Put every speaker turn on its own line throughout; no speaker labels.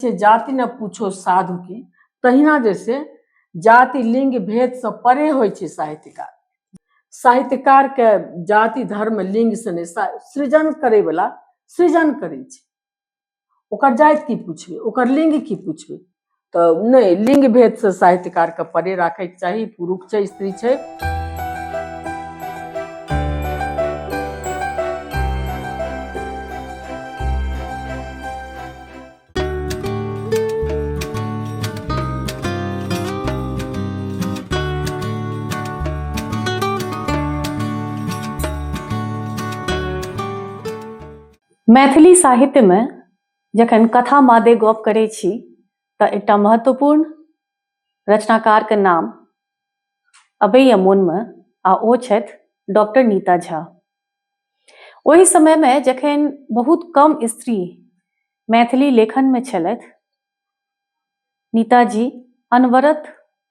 से जाति न पूछो साधु की तहिना जैसे जाति लिंग भेद से परे होइ छै साहित्यकार साहित्यकार के जाति धर्म लिंग से ने सृजन करे वाला सृजन करे छै ओकर जाति की पूछबे ओकर लिंग की पूछबे तो नहीं लिंग भेद से साहित्यकार के परे राखे चाहिए पुरुष छै स्त्री छै
मैथिली साहित्य में जखन कथा मादे गप करै छी तऽ एकटा महत्वपूर्ण रचनाकार के नाम अबैया मोन में आ ओ छथि डॉक्टर नीता झा ओहि समयमे जखन बहुत कम स्त्री मैथिली लेखनमे छलथि नीताजी अनवरत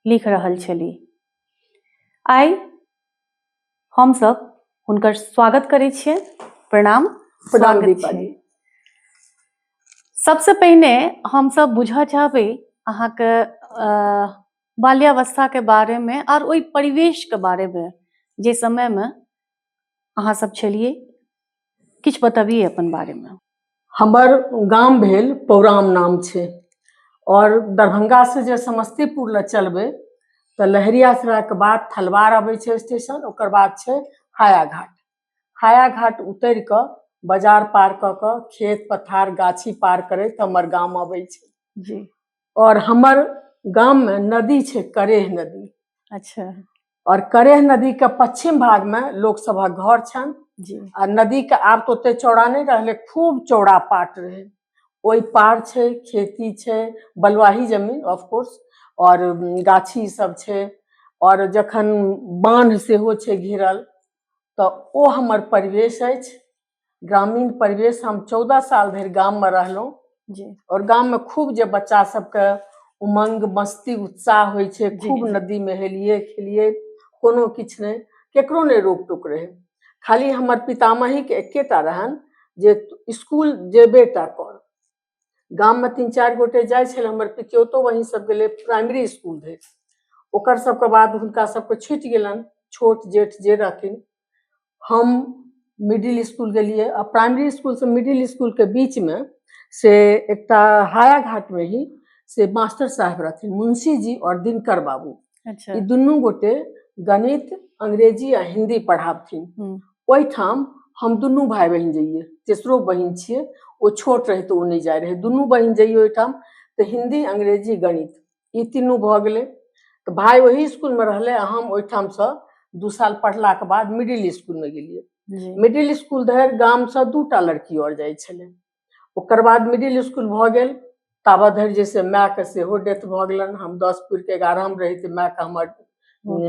लिख रहल छलीह आइ हमसभ हुनकर स्वागत करै छियै प्रणाम प्रणाम दीपाली सबसे पहिने हम सब बुझऽ चाहबै अहाँके बाल्यावस्था के बारे में और ओहि परिवेश के बारे में जे समय में अहाँ सब छलिए किछु बताबिए अपन बारे में हमर
गाम भेल पौराम नाम छै और दरभंगा से जे समस्तीपुर लए चलबै तऽ लहरियासराय के बाद थलवार अबै छै स्टेशन ओकर बाद छै हायाघाट हायाघाट उतरि कऽ बाजार पार कऽ कऽ खेत पथार गाछी पार करैत हमर गाम अबै छै जी
और हमर
गाम में नदी छै करेह नदी अच्छा
और करेह
नदी के पश्चिम भाग में लोक सभक घर छन जी आ नदी
के आब
तो ओते चौड़ा नहीं रहले खूब चौड़ा पाट रहे ओहि पार छै खेती छै बलुआही जमीन ऑफ कोर्स और उम, गाछी सब छै और जखन बांध सेहो छै घिरल तऽ ओ हमर परिवेश अछि ग्रामीण परिवेश हम चौदह साल धरि गाममे रहलहुँ जी आओर
गाममे खूब
जे बच्चा सबके उमंग मस्ती उत्साह होइ छै जी, खूब जी। नदीमे हेलियै खेलियै कोनो किछु नहि केकरो नहि रोक टोक रहै खाली हमर पितामहीके एकेटा रहनि जे तू स्कूल जेबे टा कर गाममे तीन चारि गोटे जाइ छलै हमर पितियोतो वही सब गेलै प्राइमरी इसकुल धरि ओकर सबके बाद हुनका सबके छुटि गेलनि छोट जेठ जे रहथिन हम मिडिल इसकुल गेलियै आ प्राइमरी इसकुलसँ मिडिल इसकुलके बीचमे से एकटा हाया घाटमे ही से मास्टर साहब रहथिन मुंशी जी आओर दिनकर बाबू अच्छा ई दुनू
गोटे
गणित अंग्रेजी आ हिंदी पढ़ाबथिन हम्म। ओहिठाम हम दुनू भाई बहिन जइए तेसरो बहिन छियै ओ छोट रहै तऽ ओ नहि जाइ रहै दुनू बहिन जइए ओहिठाम तऽ हिंदी अंग्रेजी गणित ई तीनू भऽ गेलै तऽ भाय ओही इसकुलमे रहलै आ हम ओहिठामसँ दू साल पढ़लाक बाद मिडिल इसकुलमे गेलियै जी मिडिल इसकुल धरि गामसँ दूटा लड़की आओर जाइ छलै ओकर बाद मिडिल स्कूल भऽ गेल ताबत धरि जे से मायके सेहो डेथ भऽ गेलनि हम दस पुरिके एगारहमे रही तऽ मायके हमर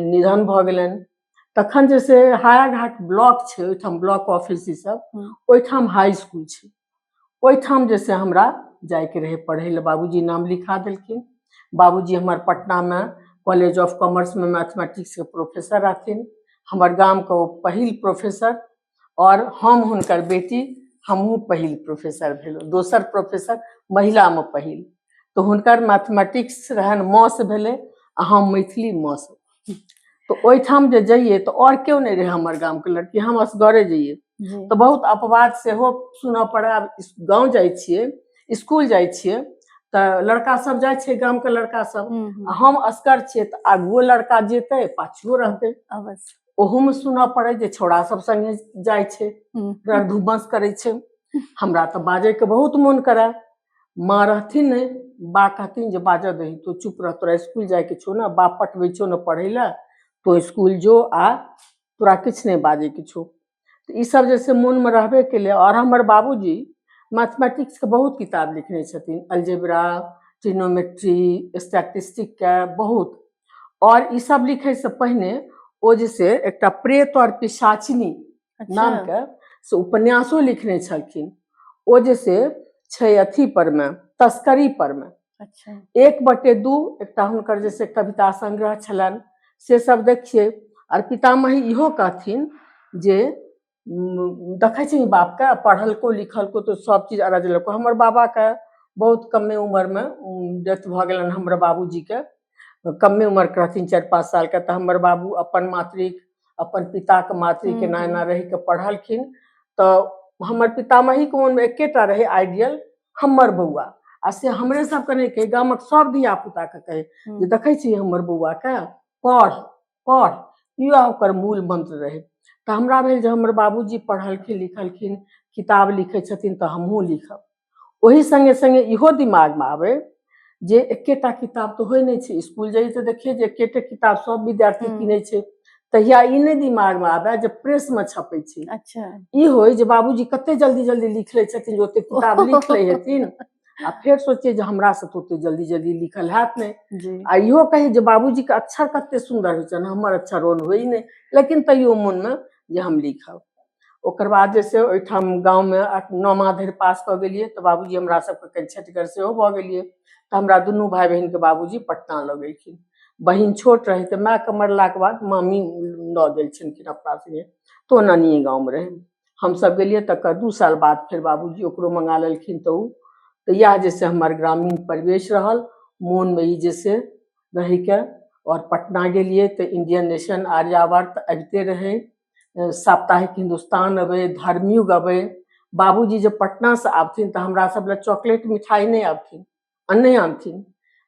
निधन भऽ गेलनि तखन जे से हायाघाट ब्लॉक छै ओहिठाम ब्लॉक ऑफिस ई सब हम्म। ओहिठाम हाई स्कूल छै ओहिठाम जे से हमरा जायके रहै पढ़ै लए बाबूजी नाम लिखा देलखिन बाबूजी हमर पटनामे कॉलेज ऑफ कॉमर्समे मैथमेटिक्सके प्रोफेसर रहथिन हमर गामके ओ पहिल प्रोफेसर आओर हम हुनकर बेटी हमहूँ पहिल प्रोफेसर भेलहुँ दोसर प्रोफेसर महिलामे पहिल तऽ हुनकर मैथमेटिक्स रहनि मौस भेलै आ हम मैथिली मौस तऽ ओहिठाम जे जइयै तऽ आओर केओ नहि रहै हमर गामके लड़की हम असगरे जइयै जी तऽ बहुत अपवाद सेहो सुनऽ पड़ै आब इस- गाँव जाइ छियै स्कूल जाइ छियै तऽ लड़का सब जाइ छै गामके लड़का सब हम्म, हम्म, आ हम असगर छियै तऽ आगुओ लड़का जेतै पाछुओ रहतै अवश्य ओहो
में सुनऽ
पड़े जे छौड़ा सब संगे जाय छै हम्म, रण धुम्मस करै छै हमरा तऽ बाजै के बहुत मोन करे माँ रहथिन ने बा कहथिन जे बाजऽ दही तो चुप रह तोरा स्कूल जाय के छौ ने बा पटबै छौ ने पढ़ै लए तो स्कूल जो आ तोरा किछु नहि बाजै के छौ तऽ ईसभ जे छै मोनमे रहबे कयलै आओर हमर बाबूजी मैथमैटिक्सके बहुत किताब लिखने छथिन अलजेब्रा ट्रिग्नोमेट्री स्टैटिस्टिकके बहुत आओर ईसभ लिखयसँ पहिने ओ जे छै एकटा प्रेत आओर पिशाचिनी अच्छा नामके से उपन्यासो लिखने छलखिन ओ जे से छै अथी परमे तस्करी परमे अच्छा एक बटे दू एकटा हुनकर जैसे कविता संग्रह छलनि से सब देखिए आर पितामही इहो कहथिन जे देखै छी बापके पढ़लको लिखलको तो सब चीज अरज लको हमर बाबाके बहुत कमे उम्रमे डेथ भऽ गेलनि हमर बाबूजीके कमे उम्रके रहथिन चारि पाँच सालके तऽ हमर बाबू अपन मातृक अपन पिताके मातृके हम्म, नायना हम्म। रहिके पढ़लखिन तऽ हमर पितामहीके मोनमे एकेटा रहै आइडियल हमर बौआ आ से हमरे सबके नहि कहै गामक सब धिया पुताके कहै हम्म। जे देखै छी हमर बौआके पढ़ पढ़ इएह ओकर मूल मंत्र रहै तऽ हमरा भेल जे हमर बाबूजी पढ़लखिन लिखलखिन किताब लिखै छथिन तऽ हमहूँ लिखब ओही संगे संगे इहो दिमाग में आवे जे एकेटा किताब तो होय नहीं छै स्कूल जाइए तो देखिए जे एकेटे किताब सब विद्यार्थी हम्म। किने छै तहिया ई नहि दिमाग में आवे जे प्रेस में छपे छै अच्छा ई होय
जे
बाबूजी कते जल्दी जल्दी लिख ले छथिन जे ओते किताब लिख ले हेथिन आ फेर सोचिए जे हमरा से तो ओते जल्दी जल्दी लिखल हैत नहीं जी आ इहो कही जे बाबूजी के अक्षर कते सुंदर होइ छनि हमर अक्षर ओन होइ नहि लेकिन तैयो मन में जे हम लिखब ओकर बाद जे छै ओहिठाम गाँवमे नौमा धरि पास कऽ गेलियै तऽ बाबूजी हमरा सबके कनि छठिगर सेहो भऽ गेलियै तऽ हमरा दुनू भाय बहिनके बाबूजी पटना लऽ गेलखिन बहिन छोट रहै तऽ मायके मरलाके बाद मामी लऽ गेल छलखिन अपना सङ्गे तऽ ओ नानिए गाँवमे रहै हमसब गेलियै तकर दू साल बाद फेर बाबूजी ओकरो मंगा लेलखिन तऽ ओ तऽ इएह जे छै हमर ग्रामीण परिवेश रहल मोनमे ई जे छै रहैके आओर पटना गेलियै तऽ इंडियन नेशन आर्यावर्त अबिते रहै साप्ताहिक हिन्दुस्तान अबै धर्मयुग अबै बाबूजी जे पटनासँ आबथिन तऽ हमरा सब लए चॉकलेट मिठाई नहि आबथिन अन्ने आनथिन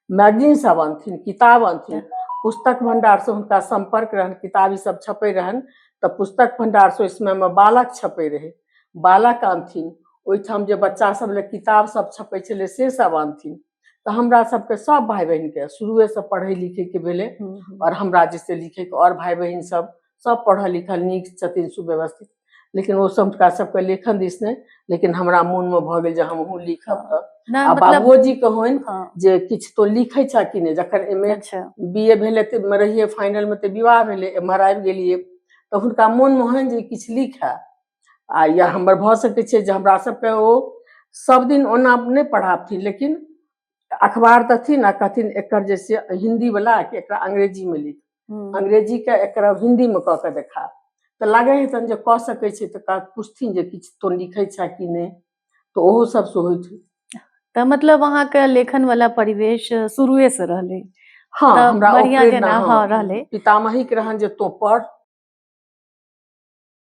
मैगजीन सब आनथिन किताब आनथिन पुस्तक भंडारसँ हुनका सम्पर्क रहनि किताब ई सब छपै रहनि तऽ पुस्तक भंडारसँ ओहि समयमे बालक छपै रहै बालक आनथिन ओहिठाम जे बच्चा सब लए किताब सब छपै छलै से सब आनथिन तऽ हमरा सबके सब भाय बहिन के शुरुए से पढ़ै लिखै के भेलै आओर हमरा जैसे लिखैके आओर भाय बहिन सब सब पढ़ल लिखल नीक छथिन सुव्यवस्थित लेकिन ओ सब हुनका सबके लेखन दिस नहि लेकिन हमरा मोन मे भऽ गेल जे हमहूँ लिखब तऽ नहि आ मतलब बाबूजी के होइन हाँ, जे किछु तो लिखै छह कि नहि जखन एम ए अच्छा बी ए भेलै तऽ मे रहियै फाइनल मे तऽ विवाह भेलै एम्हर आबि गेलियै तऽ हुनका मोन मे होइन जे किछु लिखए आ या हमर भऽ सकैत छै जे हमरा सबके ओ सब दिन ओना नहि पढ़ाबथिन लेकिन अखबार देथिन आ कहथिन एकर जे से हिन्दी वला कि एकरा अंग्रेजी मे लिख हम्म, अंग्रेजी के एकरा हिन्दी मे कऽ के देखा तऽ लागै है तहन जे कऽ सकै छै तऽ का- पूछथिन जे किछु तो लिखै छै कि नहि तऽ ओहो सब से होइ छै तऽ मतलब
अहाँके लेखन वाला परिवेश शुरुए से रहलै हाँ तऽ हमरा ओ
बढ़ियाँ प्रेरणा, जेना, हाँ, हाँ,
रहलै। पितामही के रहन जे
तो पढ़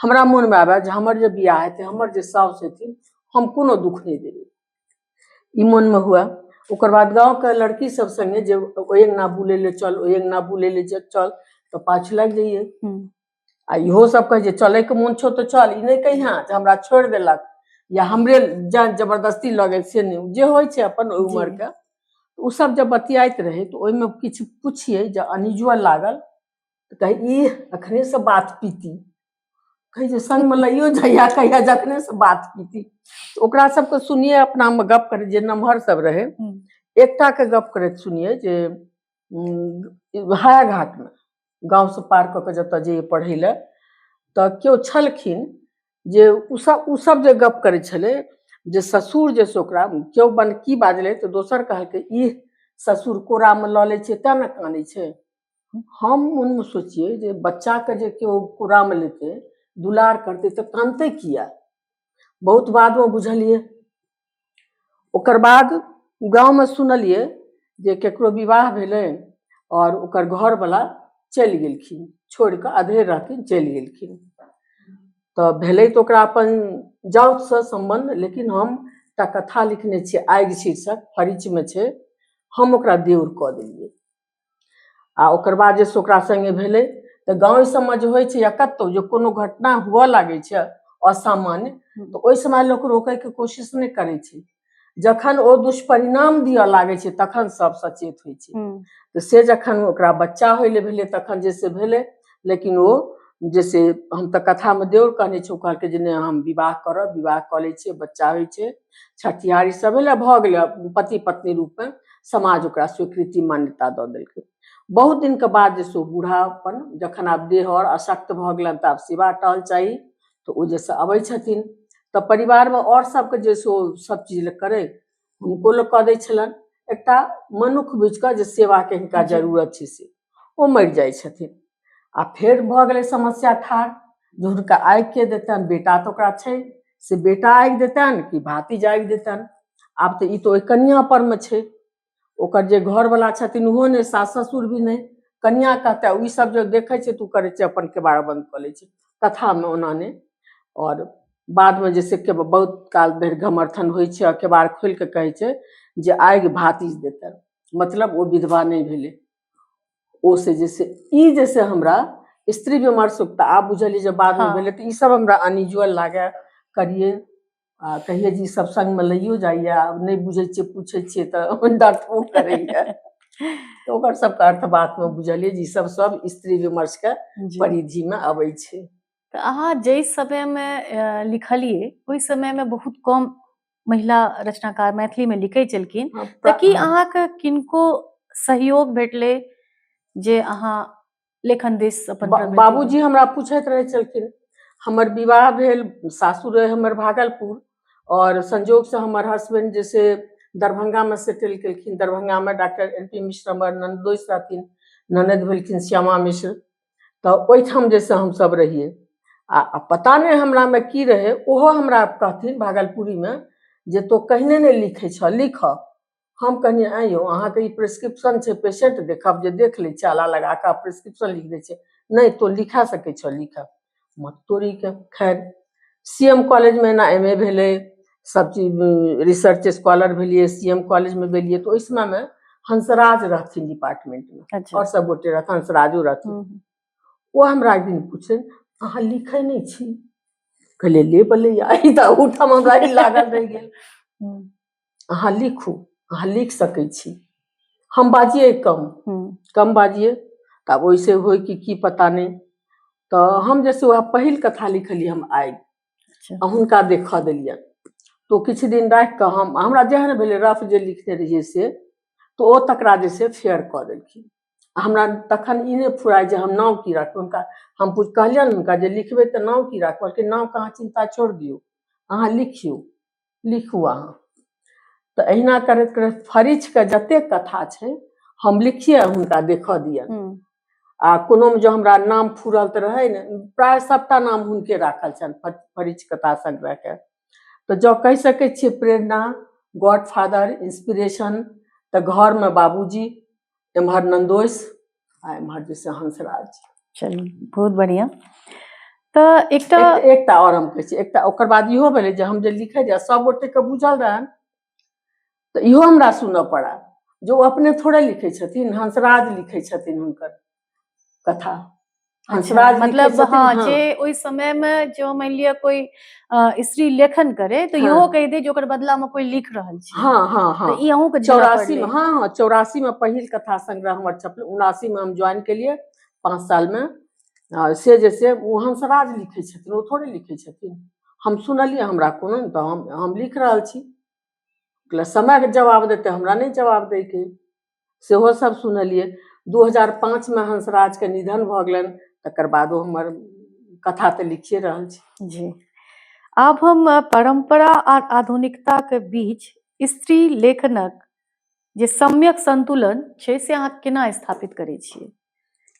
हमरा मोनमे आबय जे हमर जे बियाह हेतै हमर जे साउस हेथिन हम कोनो दुःख नहि देबै ई मोनमे हुए ओकर बाद गाँवके लड़की सब संगे जे ओहि अंगना बुलै लए चल ओहि अंगना बुलै लए जे चल तऽ पाछ लागि जाइए हम्म, आ इहो सब कहै जे चलैके मोन छौ तऽ चल ई नहि कहिया जे हमरा छोड़ि देलक या हमरे जान जबरदस्ती लऽ गेल से नहि जे होइ छै अपन ओहि जी। उमरके तऽ ओ सब जब बतियाइत रहै तऽ ओहिमे किछु पुछियै जे अनयूजुअल लागल तऽ कही ई अखने से बात पीती कही जे संगमे लइयो जाइया कहिया जखने से बात पीती तऽ ओकरा सबके सुनिए अपनामे गप करै जे नमहर सब रहै हम्म। एकटा के गप करैत सुनिए जे उम, हायाघाटमे गाँवसँ पार कऽ कऽ जतऽ जइए पढ़ै लए तऽ केओ छलखिन जे उसब उसब जे गप करै छलै जे ससुर जे से ओकरा केओ बन की बाजलै तऽ दोसर कहलकै ई ससुर कोरामे लऽ लै छै तेँ ने कानै छै हम मोनमे सोचियै जे बच्चाके जे केओ कोरामे लेतै दुलार करतै तऽ कानतै किया बहुत बादमे बुझलियै ओकर बाद गाँवमे सुनलियै जे केकरो विवाह भेलै आओर ओकर घरवला चलि गेलखिन छोड़ि कऽ अधेर रहथिन चलि गेलखिन तऽ भेलै तऽ ओकरा अपन जाउतसँ सम्बन्ध लेकिन हम एकटा कथा लिखने छियै आगि शीर्षक फरिचमे छै हम ओकरा देउर कऽ देलियै आ ओकर बाद जे ओकरा संगे भेलै तऽ गाँव सबमे जे होइ छै या कतहु जे कोनो घटना हुअ लागै छै असामान्य तऽ ओहि समय लोक रोकैके कोशिश नहि करै छै जखन ओ दुष्परिणाम दिअ लागै छै तखन सब सचेत होइ छै हम्म, तऽ से जखन ओकरा बच्चा होइ लए भेलै तखन जे से भेलै लेकिन ओ जे से हम तऽ कथामे देवर कहने छी ओ कहलकै जे नहि हम विवाह करब विवाह कऽ लै छियै बच्चा होइ छै छठियार ई सब भेलै भऽ गेलै पति पत्नी रूपमे समाज ओकरा स्वीकृति मान्यता दऽ देलकै बहुत दिनके बाद जे सो बूढ़ा अपन जखन आब देह आओर अशक्त भऽ गेलनि तऽ आब सेवा टहल चाही तऽ ओ जैसे अबै छथिन तऽ परिवारमे आओर सबके जे सो सब चीज करै हुनको लोक कऽ दै छलनि एकटा मनुख बुझिकऽ जे सेवाके हिनका जरूरत छै से ओ मरि जाइ छथिन आ फेर भऽ गेलै समस्या ठाढ़ जे हुनका आगि के देतनि बेटा तऽ ओकरा छै से बेटा आगि देतनि कि भाती जागि देतनि आब तऽ ई तऽ ओहि कनिया पर मे छै ओकर जे घरवला छथिन ओहो नहि सास ससुर भी नहि कनिया कहते ई सब जे देखै छै तू करै छै अपन केबाड़ बंद कऽ लै छै कथामे ओना नहि आओर बादमे जे से बहुत काल धरि घमर्थन होइ छै आओर केबाड़ खोलि कऽ कहै छै जे आगि भातीज देतनि मतलब ओ विधवा नहि भेलै ओ से जे से ई जे से हमरा स्त्री विमर्श तऽ आब बुझलियै जे बादमे हँ। भेलै तऽ ई सब हमरा अनयूजुअल लागए करियै आ कहियै जे ई सब संगमे लैयो जाइए आब नहि बुझै छियै पूछै छियै तऽ डरबो करैए तऽ ओकर सबके अर्थ बातमे बुझलियै जे ई सब सब स्त्री विमर्शके जी। परिधिमे अबै छै तऽ अहाँ
जाहि समयमे अ, लिखलियै ओहि समयमे बहुत कम महिला रचनाकार मैथिली में लिखे चलखिन हाँ, तऽ की हाँ। अहाँ के किनको सहयोग भेटले जे अहाँ लेखन दिस अपन बा, बाबूजी हमरा
पूछत रहे चलखिन हमर विवाह भेल सासुर रहे हमर भागलपुर और संजोग से हमर हस्बैंड जैसे दरभंगा में सेटल केलखिन दरभंगा में डॉक्टर एन पी मिश्र हमर ननदोस रहथिन ननद भेलखिन श्यामा मिश्र तऽ ओहिठाम जे से हमसभ रहियै आ आ पता नहि हमरामे की रहै ओहो हमरा कहथिन भागलपुरीमे जे तो कहने नहि लिखै छह लिखह हम कहनी आँय यौ अहाँके ई प्रिस्क्रिप्शन छै पेशेंट देखब जे देख लै छै आला लगा कऽ प्रिस्क्रिप्शन लिख दै छै नहि तो लिखा सकै छह लिखह मत तोड़ी के खैर सी एम कॉलेज मे एना एम ए भेलै सब चीज रिसर्च स्कॉलर भेलियै सी एम कॉलेज मे भेलियै तऽ ओहि समय मे हंसराज रहथिन डिपार्टमेंट मे अच्छा और सब गोटे रहथिन हंसराजो रहथिन हम्म, ओ हमरा एक दिन पूछे अहाँ लिखै नहि छी कहलियै ले बलै आई तऽ ओठाम हमरा ई लागल रहि गेल हम्म, अहाँ लिखू अहाँ लिख सकै छी हम बाजिए कम हम्म, कम बाजिए तऽ आब ओहिसे होय कि की पता नहि तऽ हम जैसे वएह पहिल कथा लिखलियै हम आइ अच्छा आ हुनका देखऽ देलियनि तऽ ओ किछु दिन राखि कऽ हम हमरा जेहन भेलै रफ जे लिखने रहियै से तऽ ओ तकरा जे छै फेयर कऽ देलखिन आ हमरा तखन ई नहि फुराय जे हम नाम की राखब हुनका हम पूछ कहलियनि हुनका जे लिखबै तऽ नाम की राखब कहलकै नामके अहाँ चिन्ता छोड़ि दियौ अहाँ लिखियौ लिखू अहाँ तऽ अहिना करैत करैत फरिच के जतेक कथा छै हम लिखिए हुनका देखऽ दियनि हम्म, आ कोनो मे जो हमरा नाम फूरल तऽ रहै ने प्राय सभटा नाम हुनके राखल छनि फ- फरिच कथा संग्रह के तऽ जँ कहि सकै छियै प्रेरणा गॉडफादर इंस्पिरेशन तऽ घरमे बाबूजी एम्हर नन्दोस आ एम्हर जे छै हंसराज चलू बहुत
बढ़िया तऽ एकटा एक- एकटा और हम कहै छी एकटा
ओकर बाद इहो भेलै जे हम जे लिखै जे सब गोटे के बुझल रहन तऽ इहो हमरा सुनऽ पड़ा जे ओ अपने थोड़े लिखै छथिन हंसराज लिखै छथिन हुनकर कथा अच्छा,
हंसराज लिखै मतलब छथिन, हाँ हँ। जे ओहि समय में जो मान लिअ कोई अ, स्त्री लेखन करे तो हाँ। इहो कहि दे जे ओकर बदला में कोई लिख रहल छै हाँ हाँ हाँ तो ई अहूँ के
झेलऽ
चौरासी पड़लै। में हाँ हाँ
चौरासी में पहिल कथा संग्रह हमर छपल उनासी में हम ज्वाइन केलिए पाँच साल में आ, से जे से ओ हंसराज लिखै छथिन ओ थोड़े लिखै छथिन हम सुनलिए हमरा कोनो ने तऽ हम हम लिख रहल छी कहलियै, समय के जवाब देतै हमरा नहि जवाब दैके सेहो सब सुनलियै दू हजार पाँचमे हंसराजके निधन भऽ गेलनि तकर बादो हमर कथा तऽ लिखिए रहल छी जी
आब हम परम्परा आ आधुनिकताके बीच स्त्री लेखनक जे सम्यक संतुलन छै से अहाँ केना स्थापित करै छियै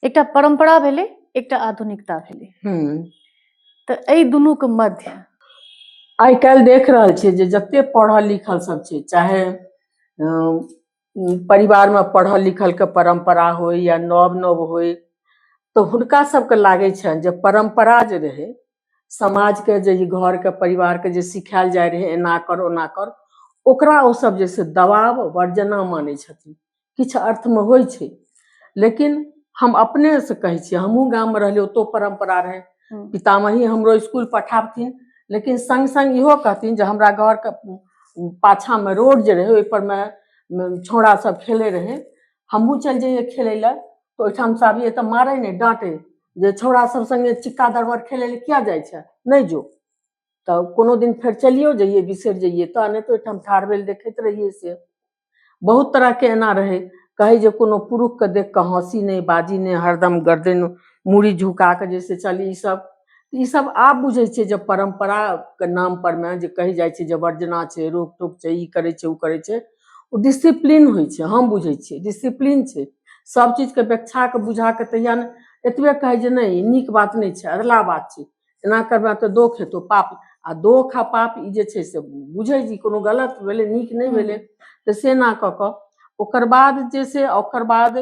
एकटा परम्परा भेलै एकटा आधुनिकता भेलै हम्म। तऽ एहि दुनूके मध्य आइ
काल्हि देख रहल छियै जे जते पढ़ल लिखल सब छै चाहे अ, परिवारमे पढ़ल लिखलके परम्परा होइ या नव नव होइ तऽ हुनका सभके लागै छनि जे परम्परा जे रहै समाजके जे ई घरके परिवारके जे सिखायल जाइ रहै एना कर ओना कर ओकरा ओसभ जे छै दबाव वर्जना मानै छथिन किछु अर्थमे होइ छै लेकिन हम अपनेसँ कहै छियै हमहूँ गाममे रहलियै ओतहु परम्परा रहै हम्म। पितामही हमरो स्कूल पठाबथिन लेकिन सङ्ग सङ्ग इहो कहथिन जे हमरा घरके पाछाँमे रोड जे रहै ओहिपरमे छौड़ा सब खेलै रहै हमहूँ चलि जइयै खेलै लए तऽ ओहिठाम से आबियै तऽ मारै नहि डाँटै जे छौड़ा सब सङ्गे चिक्का दरबर खेलै लए किया जाइ छै नहि जो तऽ कोनो दिन फेर चलियो जइयै बिसरि जइयै तऽ नहि तऽ ओहिठाम ठाढ़ भेल देखैत रहियै से बहुत तरहके एना रहै कहै जे कोनो पुरुषके देख कऽ हँसी नहि बाजी नहि हरदम गर्दन मूड़ी झुका कऽ जे से चली ईसभ ईसभ आब बुझै छियै जे परम्पराके नाम परमे जे कहि जाइ छै जे वर्जना छै रोक टोक छै ई करै छै ओ करै छै ओ डिसिप्लीन होइ छै हम बुझै छियै डिसिप्लीन छै सभ चीजके व्यक्षाके बुझाके तहिया ने एतबे कहै जे नहि ई नीक बात नहि छै अधला बात छै एना करबा तऽ दोख हेतौ पाप आ दोख आ पाप ई जे छै से बुझै जी कोनो गलत भेलै नीक नहि भेलै तऽ से ना कऽ कऽ ओकर बाद जे से ओकर बाद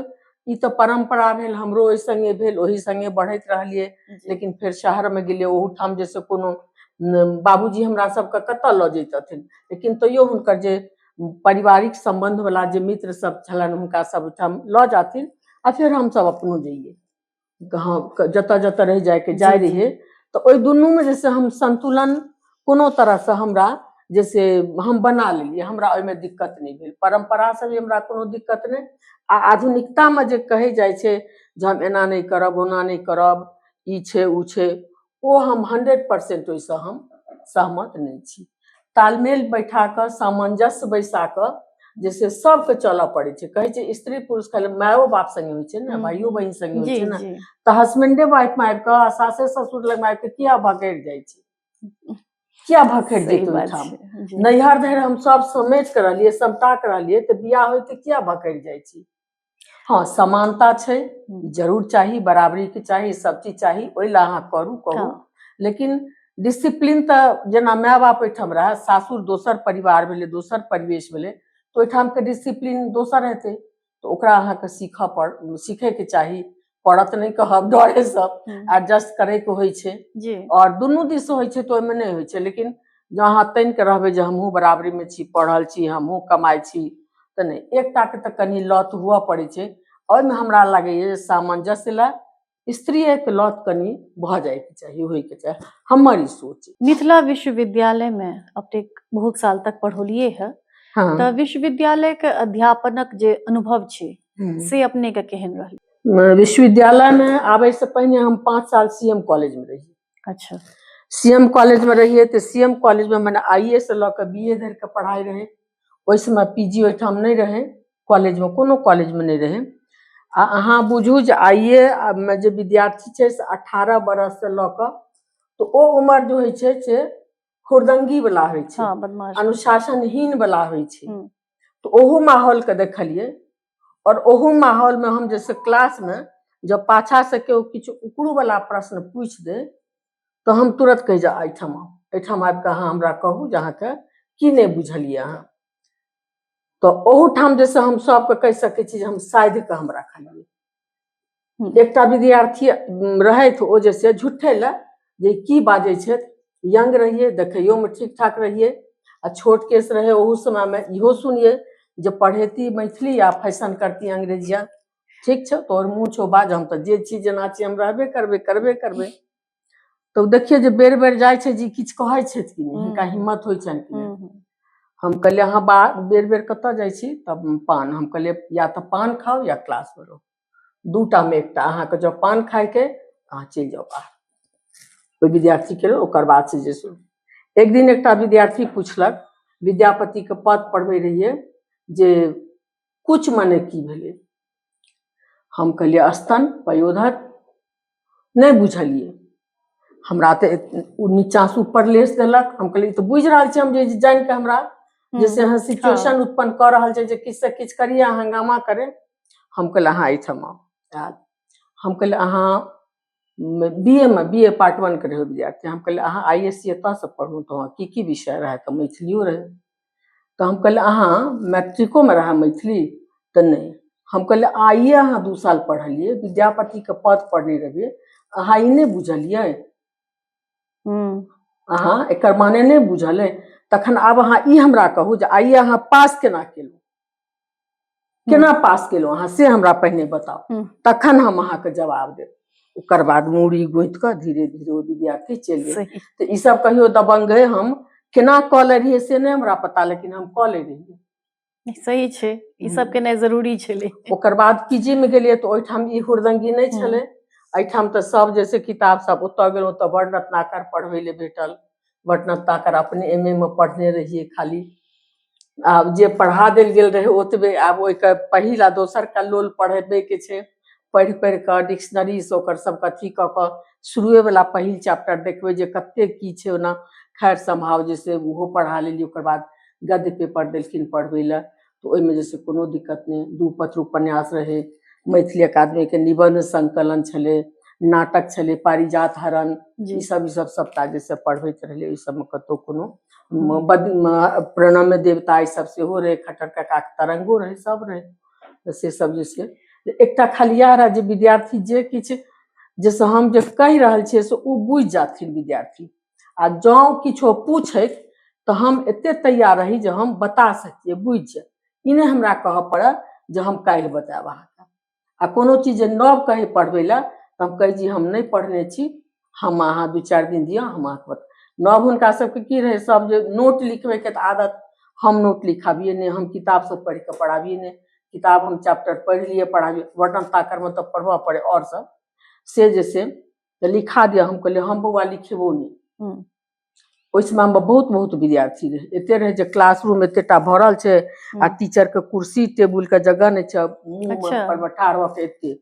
ई तऽ परम्परा भेल हमरो ओहि सङ्गे भेल ओहि सङ्गे बढ़ैत रहलियै लेकिन फेर शहरमे गेलियै ओहूठाम जे से कोनो बाबूजी हमरा सबके कतऽ लऽ जैतथिन लेकिन तैयो हुनकर जे पारिवारिक सम्बन्धवला जे मित्र सब छलनि हुनका सब ओहिठाम लऽ जाथिन आ फेर हमसब अपनो जइयै गाँव क- जतऽ जतऽ रहि जायके जाय जी, जी। रहियै तऽ ओहि दुनूमे जे से हम संतुलन कोनो तरहसँ हमरा जे से हम बना लेलियै हमरा ओहिमे दिक्कत नहि भेल परम्परासँ भी हमरा कोनो दिक्कत नहि आ आधुनिकतामे जे कहै जाइ छै जे हम एना नहि करब ओना नहि करब ई छै ओ छै ओ हम हंड्रेड परसेंट ओहिसँ हम सहमत नहि छी तालमेल बैठा कऽ सामंजस्य बैसा कऽ जे से सबके चलऽ पड़ै छै कहै छै स्त्री पुरुष खाली मायो बाप संगे होइ छै ने हम्म। भाइयो बहिन संगे होइ जी छै ने जी तऽ हस्बैंडे वाइफ में आबि कऽ आ सासे ससुर लग में आबि कऽ किया भकरि जाइ छै किया भकरि सही जेतै बात ओहिठाम छै जी। नैहर धरि हम सब समेट कऽ रहलियै समटा कऽ रहलियै तऽ बियाह होइते किया भकरि जाइ छी हँ समानता छै हम्म। जरूर चाही बराबरी के चाही सब चीज चाही ओहि ला अहाँ करू कहू हँ। लेकिन डिसिप्लीन तऽ जेना माय बाप ओहिठाम रहए सासुर दोसर परिवार भेलै दोसर परिवेश भेलै तऽ ओहिठामके डिसिप्लीन दोसर हेतै तऽ ओकरा अहाँके सीखऽ पड़ सीखयके चाही पड़त नहि कहब डरे सब हम्म, एडजस्ट करे के होइ छै जी और दुनू दिस होइ छै तो ओहिमे नहि होइ छै लेकिन जँ अहाँ तनि के रहबै जे हमहूँ बराबरी मे छी पढ़ल छी हमहूँ कमाइ छी तऽ नहि एकटा के तऽ कनि लत हुअ पड़ै छै ओहिमे हमरा लागैए जे सामंजस्य लए स्त्रीए के लत कनि भऽ जायके चाही होयके चाही हमर ई सोच अछि। मिथिला विश्वविद्यालय
में अपने बहुत साल तक पढ़ौलिए है हँ तऽ
विश्वविद्यालय
के अध्यापनक जे अनुभव छै हम्म। से अपने के केहन रहल अ, विश्वविद्यालय
में आबे से पहिने हम पाँच साल सीएम कॉलेज में रही अच्छा
सीएम कॉलेज
में रहिए तो सीएम कॉलेज में मैंने आई ए से लऽ के बी ए धरि के पढ़ाई रहे ओहि समय पी जी ओहिठाम नहि रहे कॉलेज में कोनो कॉलेज में नहि रहे आ अहाँ बुझू जे आई ए मे जे विद्यार्थी छै से अठारह बरस से लऽ के तो ओ उम्र जो होइ छै से खुरदंगी वाला होइ छै हाँ बदमाश अनुशासनहीन वाला होइ छै हम्म। तऽ ओहो माहौल के देखलियै और ओहो माहौल में हम जैसे क्लास में जब पाछा से केओ किछु उकड़ू वाला प्रश्न पूछ दे तो हम तुरंत कहि जा एहिठाम आउ। एहिठाम आबि कऽ अहाँ हमरा कहू जे अहाँके की नहि बुझलियै अहाँ तऽ ओहूठाम जैसे हम सबके कहि सकै छी जे हम साधि कऽ हम रखलियै एकटा विद्यार्थी रहथि ओ जे से झुठे लए जे की बाजै छथि यंग रहियै देखैयोमे ठीक ठाक रहियै आ छोट केस रहै ओहू समयमे इहो सुनियै जे पढ़ेती मैथिली आ फैशन करती अंग्रेजिया ठीक छौ तोहर मुँह छौ बाज हम तऽ जे छी जेना छी हम रहबे करबै करबे करबै तऽ ओ देखियै जे बेर बेर जाइ छै जे ई किछु कहै छथि कि नहि हम्म। हिनका हिम्मत होइ छनि कि नहि हम्म, हम्म। हम कहलिए अहाँ बा बेर बेर कतऽ जाइ छी तब पान हम कहलिए या तऽ पान खाउ या क्लासमे रहू दूटामे एकटा अहाँके जँ पान खाइके अहाँ चलि जाउ बाहर ओहि विद्यार्थीके लेल ओकर बाद से जे शुरू एक दिन एकटा विद्यार्थी पुछलक विद्यापतिके पद पढ़बै रहिए जे कुछ मने की भेलै हम कहलियै स्तन पयोधर नहि बुझलियै हमरा तऽ ओ नीचाँसँ ऊपर लेस देलक हम कहलियै तऽ बुझि रहल छी हम जे जानि कऽ हमरा जैसे अहाँ सिचुएशन हँ। उत्पन्न कऽ रहल छै जे किछु से किछु करिए अहाँ हंगामा करे हम कहलियै अहाँ एहिठाम आउ आयल हम कहलियै अहाँ बी ए मे बी ए पार्ट वन के रहै विद्यार्थी हम कहलियै अहाँ आई एस सी एतऽसँ पढ़ू तऽ अहाँ की की विषय रहए तऽ मैथिलियो रहै तऽ हम कहलियै अहाँ मैट्रिकोमे रहए मैथिली तऽ नहि हम कहलियै आइए अहाँ दू साल पढ़लियै विद्यापतिके पद पढ़ने रहियै अहाँ ई नहि बुझलियै अहाँ एकर माने नहि बुझल अइ तखन आब अहाँ ई हमरा कहू जे आइए अहाँ पास केना केलहुँ केना पास केलहुँ अहाँ से हमरा पहिने बताउ हम्म। तखन हम अहाँके जवाब देब ओकर बाद मूड़ी गोति कऽ धीरे धीरे ओ विद्यार्थी चलि गेल सही तऽ ई सब कहियो दबंग है हम केना कऽ ले रहियै से नहि हमरा पता लेकिन हम कऽ ले रहियै नहि, सही छै
ई सब हम्म। केनाइ जरूरी छलै ओकर बाद पीजी
मे गेलियै तऽ ओहिठाम ई हुरदंगी नहि हम्म। छलै एहिठाम तऽ सब जैसे किताब सब ओतऽ गेलहुँ तऽ बड़ रत्नाकर पढ़बै लए भेटल बटना ताकर अपने एम ए मे पढ़ने रहियै खाली आब जे पढ़ा देल गेल रहै ओतबे आब ओहिके पहिल आ दोसरके लोल पढ़बैके छै पढ़ि पढ़ि कऽ डिक्शनरीसँ ओकर सभके अथी कऽ कऽ शुरुएवला पहिल चैप्टर देखबै जे कतेक की छै ओना खैर सम्भाव जे से ओहो पढ़ा लेलियै ओकर बाद गद्य पेपर देलखिन पढ़बै लए तऽ ओहिमे जे छै कोनो दिक्कत नहि दू पत्र उपन्यास रहै मैथिली अकादमीके निबन्ध संकलन छलै नाटक छलै पारिजात हरण ई सब ई सब सबटा
जे
से पढ़बैत रहलै ई सबमे कतौ कोनो प्रणम्य देवता ई सब सेहो रहै खट्टर काका के तरंगो रहै सब रहै तऽ से सब जे छै एकटा खाली इएह रहै जे विद्यार्थी जे किछु जैसे हम जे कहि रहल छियै से ओ बुझि जाथिन विद्यार्थी आ जाओ किछो पूछे तो हम एते तैयार रही जे हम बता सकिए बुझ जाए ई नहि हमरा कहऽ पड़य जे हम काल्हि बतायब अहाँके आ कोनो चीज जे नव कहै पढ़बै लए तऽ हम कहै छी हम नहि पढ़ने छी हम अहाँ दू चारि दिन दिअ हम अहाँके बता नव हुनका सबके की रहै सब जे नोट लिखबैके तऽ आदत हम नोट लिखाबिए नहि हम किताब सब पढ़ि कऽ पढ़ाबिए नहि किताब हम चैप्टर पढ़ि लिए पढ़ाबिए वर्णन ताकरमे तऽ पढ़बऽ पड़ै आओर सब से जे से तऽ लिखा दिअ हम कहलियै हम बौआ लिखेबो नहि हूँ। ओहि समय मे बहुत बहुत विद्यार्थी रहै एते रहै जे क्लासरूम एतेटा भरल छै आ हूँ। टीचर के कुर्सी टेबुल के जगह नहि छै मुंह मे अच्छा। पर बैठा रहत एते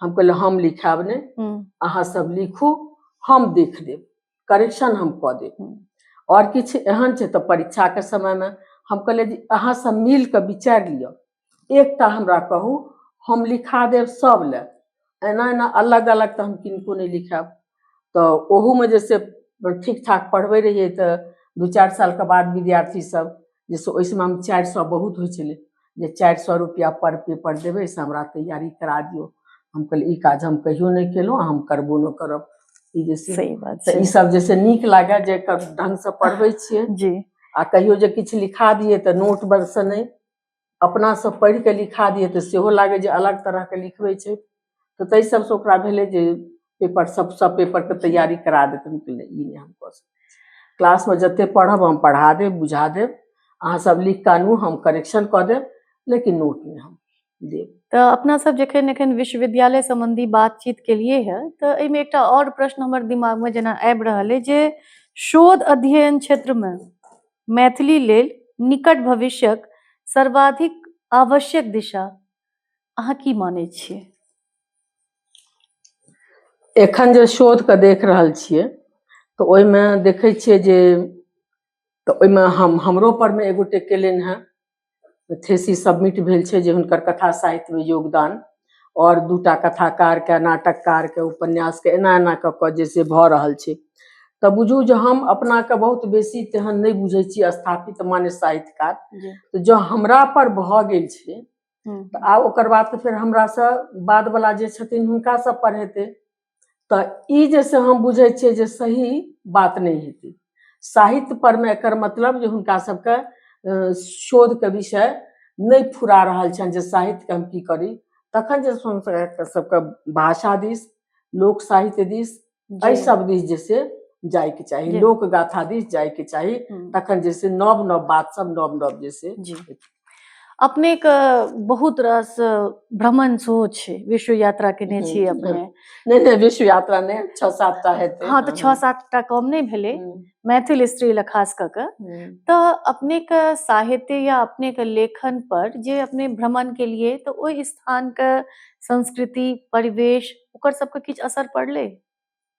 हम कहलियै हम लिखायब नहि हूँ। अहाँ सब लिखू हम देख देब करेक्शन हम कऽ देब हूँ। आओर किछु एहन छै तऽ परीक्षाके समयमे हम कहलियै जे अहाँ सब मिल कऽ विचारि लिअ एकटा हमरा कहू हम लिखा देब सभ लए एना एना अलग अलग तऽ हम किनको नहि लिखायब तऽ ओहूमे जे से ठीक ठाक पढ़बै रहियै तऽ दू चारि सालके बाद विद्यार्थी सब जे से ओहि समयमे चारि सए बहुत होइ छलै जे चारि सए रुपैआ पर पेपर देबै से हमरा तैयारी करा दियौ हम कहलियै ई काज हम कहियो नहि केलहुँ हम करबो नहि करब ई जे से सही बात तऽ छै ई सब जे
से नीक
लागए जे क- ढंग से पढ़बै छियै जी आ कहियो
जे
किछु लिखा दियै तऽ नोट बरसँ नहि अपनासँ पढ़ि कऽ लिखा दियै तऽ सेहो लागै जे अलग तरहके लिखबै छै तऽ ताहि सभसँ ओकरा भेलै जे पेपर सभ सभ पेपरके तैयारी करा देथिन कि नहि ई नहि हम कऽ सकैत क्लासमे जतेक पढ़ब हम पढ़ा देब बुझा देब अहाँ सभ लिख कऽ आनू हम करेक्शन कऽ देब लेकिन नोट नहि हम देब तऽ अपना सब
जखन एखन विश्वविद्यालय सम्बन्धी बातचीत केलिए है तऽ एहिमे एकटा और प्रश्न हमर दिमाग में जेना आबि रहल है जे शोध अध्ययन क्षेत्र में मैथिली लेल निकट भविष्यक सर्वाधिक आवश्यक दिशा अहाँ की मानै छियै
एखन जे शोध के देख रहल छियै तऽ ओहिमे देखै छियै जे तऽ ओहिमे हम हमरो पर मे एगो टेकेलनि हेँ थेसिस सबमिट भेल छै जे हुनकर कथा साहित्यमे योगदान आओर दूटा कथाकारके नाटककारके उपन्यासके एना एना कऽ कऽ जे से भऽ रहल छै तऽ बुझू जे हम अपनाके बहुत बेसी तेहन नहि बुझै छी स्थापित माने साहित्यकार तऽ जँ हमरा पर भऽ गेल छै तऽ आब ओकर बाद तऽ फेर हमरासँ बादवला जे छथिन हुनका सब पर हेतै तऽ ई जे से हम बुझै छियै जे सही बात नहि हेतै साहित्य परमे एकर मतलब जे हुनका सबके शोधके विषय नहि फुरा रहल छनि जे साहित्यके हम की करी तखन जे सबके भाषा दिस लोक साहित्य दिस एहि सब दिस जे से जायके चाही लोक गाथा दिस जायके चाही हम्म। तखन जे से नव नव बात सब नव नव जे से
अपनेके बहुत रास भ्रमण सेहो छै विश्व यात्रा केने छी हम्म, अपने नहि नहि विश्व
यात्रा ने छओ सात टा हेतै हँ तऽ छओ सात टा
कम नहि भेलै हम्म, मैथिल स्त्री लए खास कऽ कऽ हम्म। तऽ अपनेके साहित्य या अपनेके लेखन पर जे अपने भ्रमण केलिए तऽ ओहि स्थानके संस्कृति परिवेश ओकर सबके किछु असर पड़लै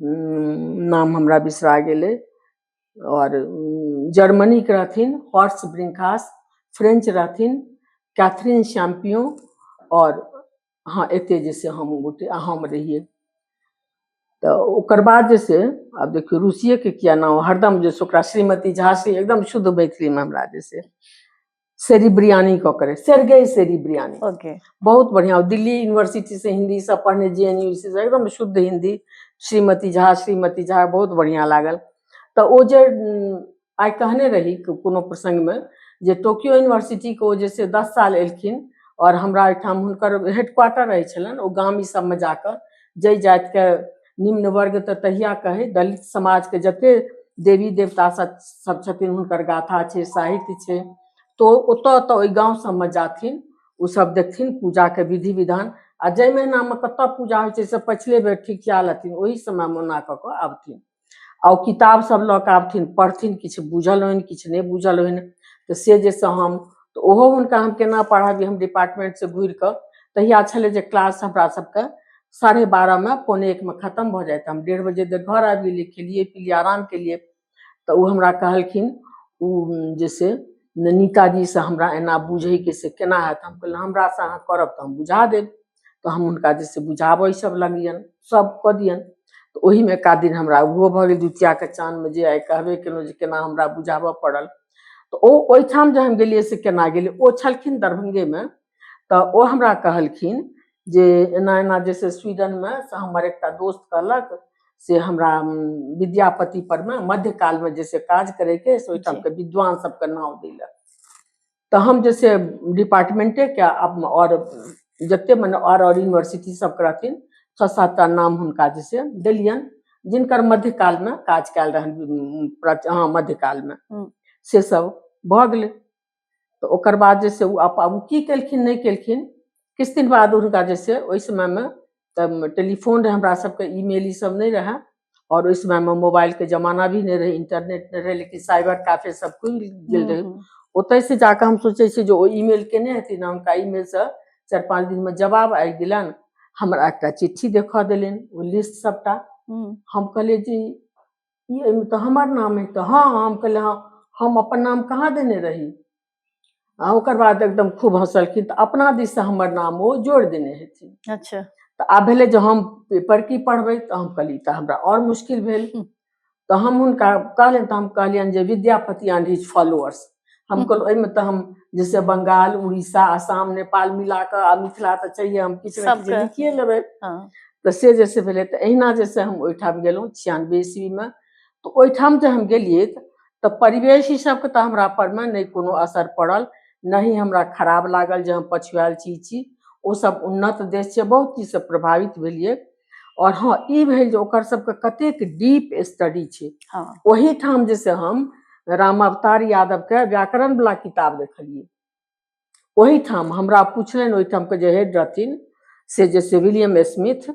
नाम हमरा बिसरा गेलै आओर जर्मनीके रहथिन हॉर्स ब्रिंकास फ्रेंच रहथिन कैथरीन शैम्पियो आओर हँ एते जे से हम गोटे आ हम रहियै तऽ ओकर बाद जे से आब देखियौ रूसिएके किया नाम हरदम जे से ओकरा श्रीमती झा से एकदम शुद्ध मैथिलीमे हमरा जे से सेरी बिरयानी कऽ करे सेरगई सेरी बिरयानी ओके बहुत बढ़िया दिल्ली यूनिवर्सिटी से हिंदी सब पढ़ने जे एन यू से एकदम शुद्ध हिंदी श्रीमती झा श्रीमती झा बहुत बढ़िया लागल तऽ ओ जे उम, आइ कहने रही को- कोनो प्रसंगमे जे टोक्यो यूनिवर्सिटीके ओ जे से दस साल एलखिन आओर हमरा ओहिठाम हुनकर हेडक्वार्टर रहै छलनि ओ गाम ई सबमे जाकऽ जाहि जातिके निम्न वर्ग तऽ तहिया कहै दलित समाजके जते देवी देवता सब छथिन हुनकर गाथा छै साहित्य छै तो ओतऽ ओतऽ ओहि गाँव सबमे जाथिन ओसब देखथिन पूजाके विधि विधान आ जाहि महीनामे कतऽ पूजा होइ छै से पछिले बेर ठीक कए लेथिन ओहि समयमे ओना कऽ कऽ आबथिन आ ओ किताब सब लऽ कऽ आबथिन पढ़थिन किछु बुझल होनि किछु नहि बुझल होनि तऽ से जे से हम तऽ ओहो हुनका हम केना पढ़ाबी हम डिपार्टमेंटसँ घुरि कऽ तहिया छलै जे क्लास हमरा सबके साढ़े बारह में पौने एक में खत्म भऽ जाइत हम डेढ़ बजे तक घर आबि गेलियै खेलियै पिलियै आराम केलियै तऽ ओ हमरा कहलखिन ओ जे से नीताजी से हमरा एना बुझैके से केना हैत हम कहलियै हमरा से अहाँ करब तऽ हम बुझा देब तऽ हम हुनका जे से बुझाबऽ सब लगलियनि सब कऽ दियनि तऽ ओहिमे एका दिन हमरा ओहो भऽ गेल द्वितीयाके चाँदमे जे आइ कहबे केलहुँ जे केना हमरा बुझाबऽ पड़ल तऽ ओ ओहिठाम जे हम गेलियै से केना गेलियै ओ छलखिन दरभंगेमे तऽ ओ हमरा कहलखिन जे एना एना जे छै स्वीडनमे से हमर एकटा दोस्त कहलक से हमरा उम, विद्यापति पर मे मध्यकालमे जे छै काज करैके से ओहिठामके विद्वान सबके नाम दै लए तऽ हम जे छै डिपार्टमेंटेके आब- आओर जते मने आओर आओर यूनिवर्सिटी सबके रहथिन छओ सात टा नाम हुनका जे छै देलियनि जिनकर मध्यकालमे काज कयल रहनि उम, प्राच- हँ मध्यकालमे हम्म। से सब भऽ गेलै तऽ ओकर बाद जे छै ओ आब ओ की केलखिन नहि केलखिन किछु दिन बाद हुनका जे छै ओहि समयमे तऽ टेलीफोन रहै हमरा सबके ईमेल ई सब नहि रहै और ओहि समयमे मोबाइलके जमाना भी नहि रहै इंटरनेट नहि रहै लेकिन साइबर कैफे सब खुलि गेल रहै हम्म, ओतयसँ जाकऽ हम सोचै छियै जे ओ ईमेल केने हेथिन आ हुनका ईमेलसँ चारि पाँच दिनमे जवाब आबि गेलनि हमरा एकटा चिट्ठी देखा देलनि ओ लिस्ट सबटा हम्म, हम कहलियै जी ई एहिमे तऽ हमर नाम अइ तऽ हँ हम कहलिए हँ हम अपन नाम कहाँ देने रही आ ओकर बाद एकदम खूब हँसलखिन तऽ अपना दिससँ हमर नाम ओ जोड़ि देने हेथिन अच्छा तऽ आब
भेलै जे
हम पेपर की पढ़बै तऽ हम कहलिए तऽ हमरा आओर मुश्किल भेल हूँ। तऽ हम हुनका कहलियनि तऽ हम कहलियनि जे विद्यापति एंड हिज फॉलोअर्स हम कहल ओहिमे तऽ हम जैसे बंगाल उड़ीसा आसाम नेपाल मिला कऽ आ मिथिला तऽ चाहिए हम किछु ने किछु सबके। लिखिए लेबै हाँ। तऽ से जे से भेलै तऽ एहिना जे से हम ओहिठाम गेलहुँ छियानबे ईस्वीमे तऽ ओहिठाम जे हम गेलियै तऽ- तऽ परिवेश ई सबके तऽ हमरा परमे नहि कोनो असर पड़ल नहि हमरा खराब लागल जे हम पछुआएल छी ई छी ओसब उन्नत देश छै बहुत चीजसँ प्रभावित भेलियै आओर हँ ई भेल जे ओकर सबके कतेक डीप स्टडी छै हँ ओहिठाम जे से हम राम अवतार यादवके व्याकरण वला किताब देखलियै ओहिठाम हमरा पुछलनि ओहिठामके जे हेड रहथिन से जे से विलियम स्मिथ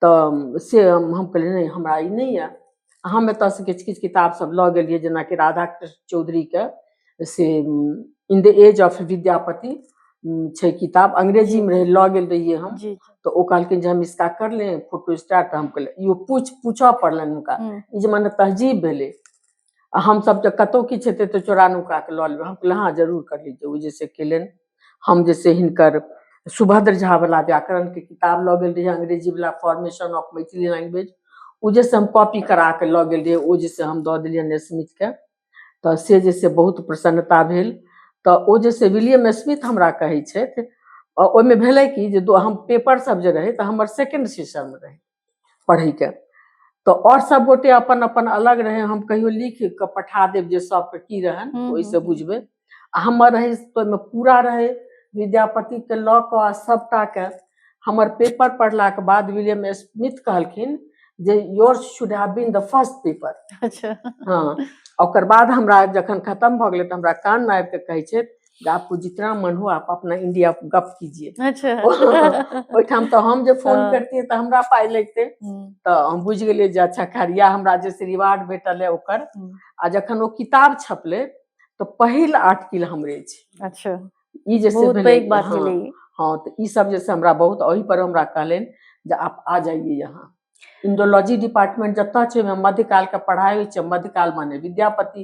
तऽ से हम हम कहलियै नहि हमरा ई नहि यए हम एतयसँ किछु किछु किताबसभ लऽ गेलियै जेनाकि राधा कृष्ण चौधरीके से in the age of Vidyapati um, छै किताब अंग्रेजीमे रहै लऽ गेल रहियै हम जी तऽ ओ कहलखिन जे हम इसका कर ले फोटो स्टार्ट तऽ हम कहलियै इहो पूछ पूछऽ पड़लनि हुनका हम्म, ई जे मने तहजीब भेलै आ हमसभ तऽ कतहु किछु हेतै तऽ चोरा नुका कऽ लऽ लेबै हम कहलियै हँ जरूर कर लीजिए ओ जैसे केलनि हम जे छै हिनकर सुभद्र झा वाला व्याकरण के किताब लऽ गेल रही अंग्रेजी वाला फॉर्मेशन ऑफ मैथिली लैंग्वेज ओ जे से हम कॉपी करा के लऽ गेल रही ओ जे से हम दऽ देलियनि स्मिथ के तऽ से जे से बहुत प्रसन्नता भेल तऽ ओ जे से विलियम स्मिथ हमरा कहै छथि आ ओहिमे भेलै कि जे दो हम पेपर सब जे रहै तऽ हमर सेकंड सेशन रहै पढ़ैके तऽ आओर सब गोटे अपन अपन अलग रहै हम कहियो लिख कऽ पठा देब जे सबके की रहनि हम्म, ओहिसँ हम्म। बुझबै आ हमर रहै से तऽ ओहिमे पूरा रहै विद्यापतिके लऽ कऽ आ सभटाके हमर पेपर पढ़लाके बाद विलियम स्मिथ कहलखिन जे yours should have been the first paper अच्छा
हँ
ओकर बाद हमरा जखन खतम भऽ गेलै तऽ हमरा कानमे आबि कऽ कहै छथि जे आपको जितना मन हो आप अपना इंडिया गप कीजिए अच्छा
ओहिठाम
तऽ हम जे फोन हाँ। करतियै तऽ हमरा पाइ लगतै हम्म, तऽ हम बुझि गेलियै जे अच्छा खैर या हमरा जे से रिवार्ड भेटल है ओकर हम्म, आ जखन ओ किताब छपलै तऽ पहिल आर्टिकल हमरे छी अच्छा ई जे
से बहुत भेलै
पैघ बात हाँ, भेलै ई।
हाँ तऽ ई सब
जे से हमरा बहुत ओहि पर हमरा कहलनि जे आप आ जाइए यहाँ इंडोलॉजी डिपार्टमेंट जतऽ छै ओहिमे मध्यकाल के पढ़ाई होइ छै मध्यकाल माने विद्यापति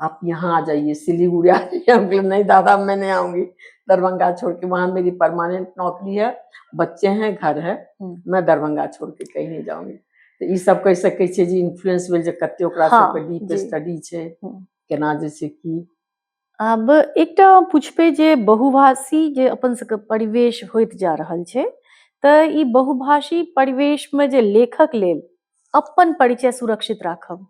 आप यहाँ आ जाइए सिलीगुड़ी आ जाइए हम बोले नहीं दादा मैं नहीं आऊंगी दरभंगा छोड़ के वहाँ मेरी परमानेंट नौकरी है बच्चे हैं घर है हम्म। मैं दरभंगा छोड़ के कहीं नहीं जाऊंगी तो ये सब कह सके छे जी इन्फ्लुएंस भेल जे कते ओकरा हाँ, सब के डीप स्टडी
छे हम्म।
केना जे
छे की
अब
एक टा पूछपे जे बहुभाषी जे अपन सबके परिवेश होत जा रहल छे त ई बहुभाषी परिवेश में जे लेखक लेल अपन परिचय सुरक्षित राखब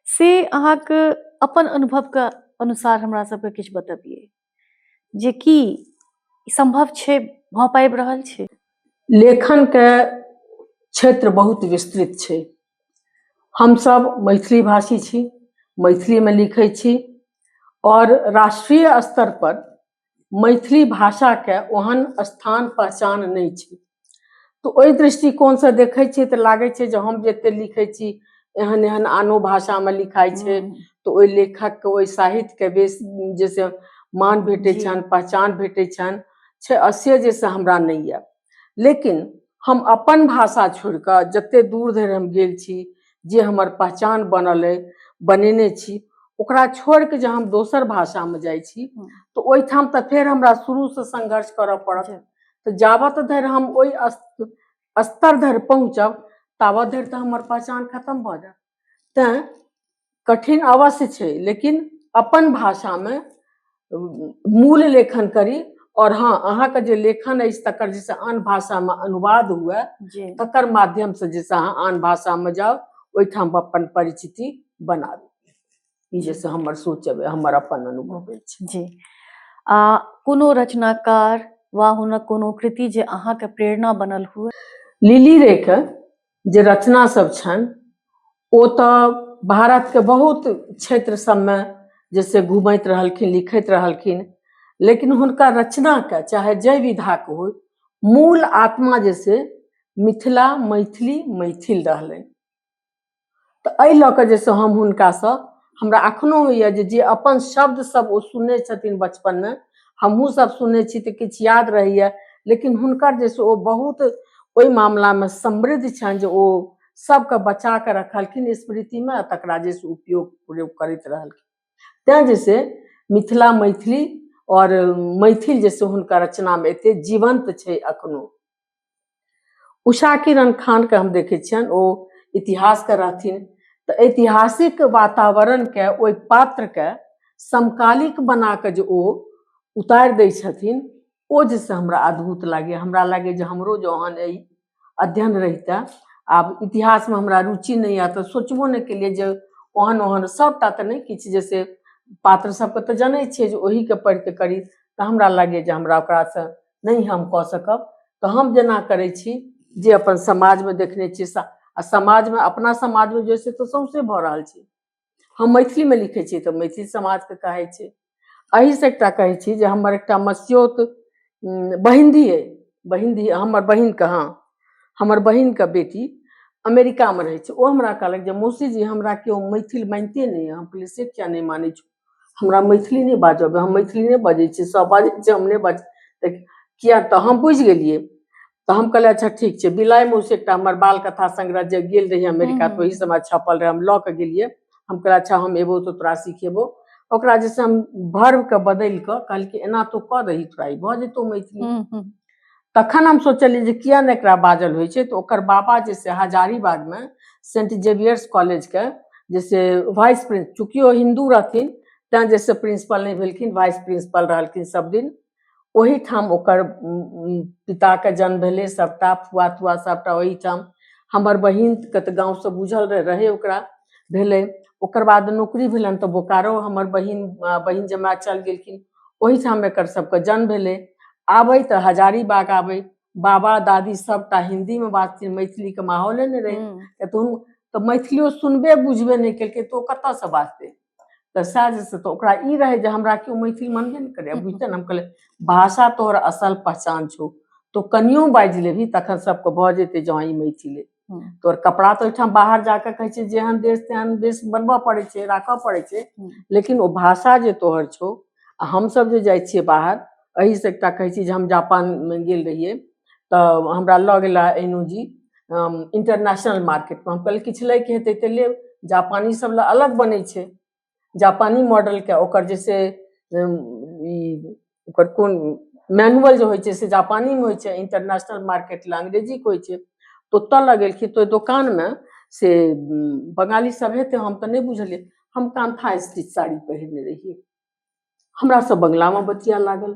से अहाँके अपन अनुभवके अनुसार हमरा सबके किछु बतबियै जे की सम्भव छै भऽ पाबि रहल छै लेखनके
क्षेत्र बहुत विस्तृत छै हमसभ मैथिली भाषी छी मैथिलीमे लिखै छी आओर राष्ट्रीय स्तर पर मैथिली भाषाके ओहन स्थान पहचान नहि छै तऽ ओहि दृष्टिकोणसँ देखै छियै तऽ लागै छै जे हम जते लिखै छी एहन एहन आनो भाषामे लिखाइ छै तऽ ओहि लेखकके ओहि साहित्यके बेस जैसे मान भेटै छनि पहचान
भेटै
छनि छै असे जैसे हमरा नहि यऽ लेकिन हम अपन भाषा छोड़ि कऽ जतेक दूर धरि हम गेल छी जे हमर पहचान बनल अइ बनेने छी ओकरा छोड़ि कऽ जे हम दोसर भाषामे जाइ छी हँ। तऽ ओहिठाम तऽ फेर हमरा शुरूसँ संघर्ष करऽ पड़त जी। तऽ जाबत धरि हम ओहि अस- स्तर धरि पहुँचब ताबत धरि तऽ हमर पहचान खतम भऽ जायत तैँ कठिन अवश्य छै लेकिन अपन भाषामे मूल लेखन करी आओर हँ अहाँके जे लेखन अछि तकर जे से आन भाषामे अनुवाद हुए जी तकर माध्यमसँ जे से अहाँ आन भाषामे जाउ ओहिठाम अपन परिचिति बनाबी ई जे से हमर सोच अइ हमर अपन अनुभव अछि जी
आ कोनो रचनाकार वा हुनक कोनो कृति जे अहाँके प्रेरणा बनल हुए लिली
रेखा जे रचना सब छनि ओ तऽ भारत के बहुत क्षेत्र सबमे जैसे घूमैत रहलखिन लिखैत रहलखिन लेकिन हुनका रचना के चाहे जय विधा के हो मूल आत्मा जैसे मिथिला मैथिली मैथिल रहलनि तऽ एहि लऽ कऽ जे से हम हुनकासँ हमरा एखनो होइए जे जे अपन शब्द सब ओ सुनने छथिन बचपनमे हमहूँ सब सुनने छी तऽ किछु याद रहैए लेकिन हुनकर जे से ओ बहुत ओहि मामलामे समृद्ध छनि जे ओ सबके बचा कऽ रखलखिन स्मृतिमे आ तकरा जे से उपयोग प्रयोग करैत रहलखिन तैँ जे से मिथिला मैथिली आओर मैथिल जे से हुनकर रचनामे एते जीवंत छै एखनो उषा किरण खानके हम देखै छियनि ओ इतिहासके रहथिन तऽ ऐतिहासिक वातावरणके ओहि पात्रके समकालिक बना कऽ जे ओ उतारि दै छथिन ओ जे से हमरा अद्भुत लागैए हमरा लागैए जे हमरो जे ओहन एहि अध्ययन रहितए आब इतिहासमे हमरा रुचि नहि यए तऽ सोचबो नहि केलियै जे ओहन ओहन सभटा तऽ नहि किछु जे से पात्र सभके तऽ जनै छियै जे ओहीके पढ़ि कऽ करी तऽ हमरा लागैए जे हमरा ओकरासँ नहि हम कऽ सकब तऽ हम जेना करै छी जे अपन समाजमे देखने छियै सा आ समाजमे अपना समाजमे जे से तऽ सौंसे भऽ रहल छै हम मैथिलीमे लिखै छियै तऽ मैथिल समाजके कहै छै एहिसँ एकटा कहै छी जे हमर एकटा मस्योत उम, बहिन्दी अइ बहिन्दी हमर बहिनके हँ हमर बहिनके बेटी अमेरिकामे रहै छै ओ हमरा कहलक जे मौसी जी हमरा केओ मैथिल मानिते नहि यए हम कहलियै से किया नहि मानै छौ हमरा मैथिली नहि बाजऽ अबैया हम मैथिली नहि बजै छी सब बाजै छै हम नहि बाजै तऽ किया तऽ हम बुझि गेलियै तऽ हम कहलियै अच्छा ठीक छै बिलाइ मौसी एकटा हमर बाल कथा संग्रह जे गेल रही अमेरिका हम्म। तऽ ओहि समय छपल रहे हम लऽ के गेलियै हम कहलियै अच्छा हम एबो तऽ तोरा सिखेबो ओकरा जैसे हम भर्व के बदलि कऽ कहलकै एना तू कऽ दही तोरा ई भऽ जेतौ मैथिली हम्म, हम्म। तखन हम सोचलियै जे किया नहि एकरा बाजल होइ छै तऽ ओकर बाबा जे से हजारीबागमे सेंट जेवियर्स कॉलेजके जे से वाइस प्रिंस चूँकि ओ हिन्दू रहथिन तैँ जे से प्रिंसिपल नहि भेलखिन वाइस प्रिंसिपल रहलखिन सब दिन ओहीठाम ओकर पिताके जन्म भेलै सभटा फुआ तुआ सभटा ओहीठाम हमर बहिनके तऽ गाँवसँ बुझल रहै ओकरा भेलै ओकर बाद नौकरी भेलनि तऽ बोकारो हमर बहिन बहिन जमाय चलि गेलखिन ओहिठाम एकर सबके जन्म भेलै आबै तऽ हजारीबाग आबै बाबा दादी सबटा हिन्दीमे बात छै मैथिलीके माहौले नहि रहै हम्म, तऽ तू तऽ मैथिलियो सुनबे बुझबे नहि केलकै तऽ ओ कतऽसँ बाजतै तऽ सएह जे से तऽ ओकरा ई रहै जे हमरा केओ मैथिल मनबे नहि करै बुझते ने हम कहलियै भाषा तोहर असल पहचान छौ तो कनियो बाजि लेबही तखन सबके भऽ जेतै जे हँ ई मैथिल अइ हम्म। तोर कपड़ा तो ओहिठाम बाहर जाके कहै छै जेहन देश तेहन देश बनबऽ पड़ै छै राखऽ पड़ै छै हम्म। लेकिन ओ भाषा जे तोहर छौ आ हमसभ जे जाइ छियै बाहर एहिसँ एकटा कहै छी जे हम जापानमे गेल रहियै तऽ हमरा लऽ गेला एनू जी इंटरनेशनल मार्केटमे हम कहलियै किछु लैके हेतै तऽ लेब जापानी सब लए अलग बनै छै जापानी मॉडलके ओकर जे छै ओकर कोन मैनुअल जे होइ छै से जापानीमे होइ छै इंटरनेशनल मार्केट लए अंग्रेजीके होइ छै तऽ ओतऽ लगेलखिन तऽ ओहि दोकानमे से बंगाली सब हेतै हम तऽ नहि बुझलियै हम कान्था स्टिच साड़ी पहिरने रहियै हमरा सब बंगलामे बतिया लागल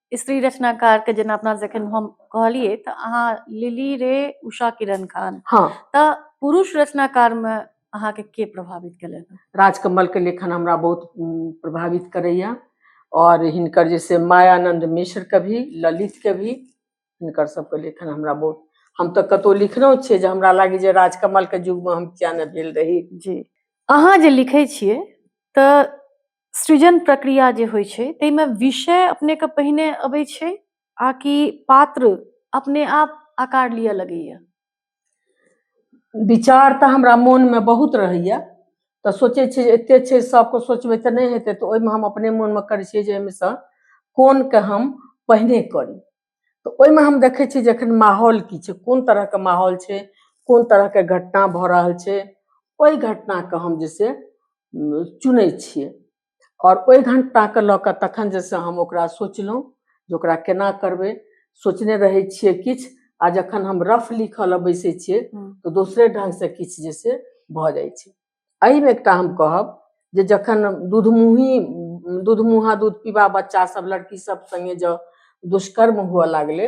स्त्री रचनाकारके जेना अपना जखन हम कहलियै तऽ अहाँ लिली रे उषा किरण खान हँ तऽ
पुरुष
रचनाकारमे अहाँके के प्रभावित केलनि राजकमलके लेखन
हमरा बहुत उम, प्रभावित करैए आओर हिनकर जे से मायानन्द मिश्रके भी ललितके भी हिनकर सबके लेखन हमरा बहुत हम तऽ कतहु लिखलहुँ छियै जे हमरा लागै जे राजकमलके युगमे हम किया नहि भेल रही जी अहाँ
जे लिखै छियै तऽ सृजन प्रक्रिया जे होइ छै ताहिमे विषय अपनेके पहिने अबै छै आ कि पात्र अपने आप आकार लिअ लगैए
विचार तऽ हमरा मोनमे बहुत रहैए तऽ सोचै छियै जे एतेक छै सभके सोचबै तऽ नहि हेतै तऽ ओहिमे हम अपने मोनमे करै छियै जे एहिमेसँ कोनके हम पहिने करी तऽ ओहिमे हम देखै छी जे एखन माहौल की छै कोन तरहके माहौल छै कोन तरहके घटना भऽ रहल छै ओहि घटनाके हम जे छै चुनै छियै आओर ओहि घटनाके लऽ कऽ तखन जे छै हम ओकरा सोचलहुँ जे ओकरा केना करबै सोचने रहै छियै किछु आ जखन हम रफ लिखऽ लए बैसै छियै तऽ दोसरे ढङ्गसँ किछु जे छै भऽ जाइ छै एहिमे एकटा हम कहब जे जखन दूधमुही दूधमुहा दूध पीबा बच्चा सब लड़की सब संगे जँ दुष्कर्म हुअ लागलै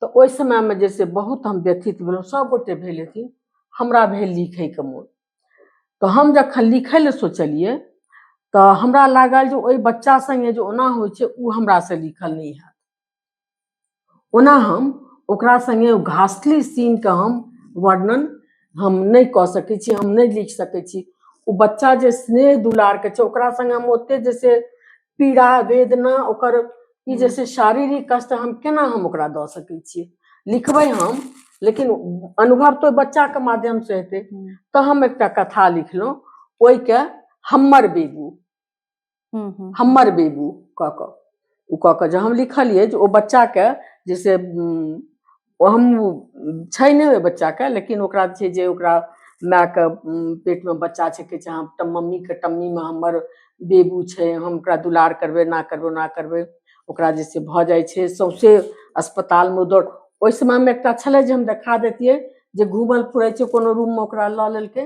तऽ ओहि समयमे जे से बहुत हम व्यथित भेलहुँ सब गोटे भेल हेथिन हमरा भेल लिखैके मोन तऽ हम जखन लिखै लए सोचलियै तऽ हमरा लागल जे ओहि बच्चा संगे जे ओना होइ छै ओ हमरा से लिखल नहि हैत ओना हम ओकरा संगे ओ घासली सीन के हम वर्णन हम नहि कऽ सकै छी हम नहि लिख सकै छी ओ बच्चा जे स्नेह दुलार के छै ओकरा संगे हम ओते जे से पीड़ा वेदना ओकर ई जे से शारीरिक कष्ट हम केना हम ओकरा दऽ सकै छियै लिखबै हम लेकिन अनुभव तो बच्चा के माध्यम से हेतै तऽ हम एकटा कथा लिखलहुँ ओहिके हम्मर बेगू हम्म, हम्म, हमर बेबू कऽ कऽ ओ कऽ कऽ जे हम लिखलियै जे ओ बच्चाके जे से उम, ओ हम छै नहि ओहि बच्चाके लेकिन ओकरा छै जे ओकरा मायके उम, पेटमे बच्चा छै कहै छै हम तऽ मम्मीके टम्मीमे हमर बेबू छै हम ओकरा दुलार करबै एना करबै ओना करबै ओकरा जे से भऽ जाइ छै सौंसे अस्पतालमे ओ दौड़ ओहि समयमे एकटा छलै जे हम देखा दैतियै जे घूमल फिरै छै कोनो रूममे ओकरा लऽ लेलकै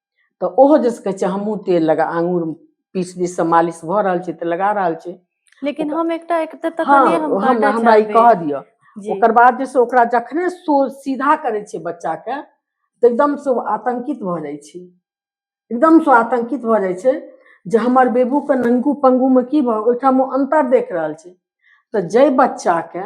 तऽ ओहो जे कहै छै हमहूँ तेल लगा आङूर पीस पीस से मालिश भऽ रहल छै तऽ लगा रहल छै लेकिन हम एकटा
एक तऽ तखने हाँ, हम हम काटऽ
हमरा ई
चाहबै। कह दिअ जी
ओकर बाद जे
छै ओकरा
जखने सो सीधा करै छै बच्चा के तऽ एकदम से ओ आतंकित भऽ जाइ छै एकदम से आतंकित भऽ जाइ छै जे हमर बेबू के नंगू पंगू में की भऽ ओहिठाम ओ अंतर देख रहल छै तऽ जाहि बच्चा के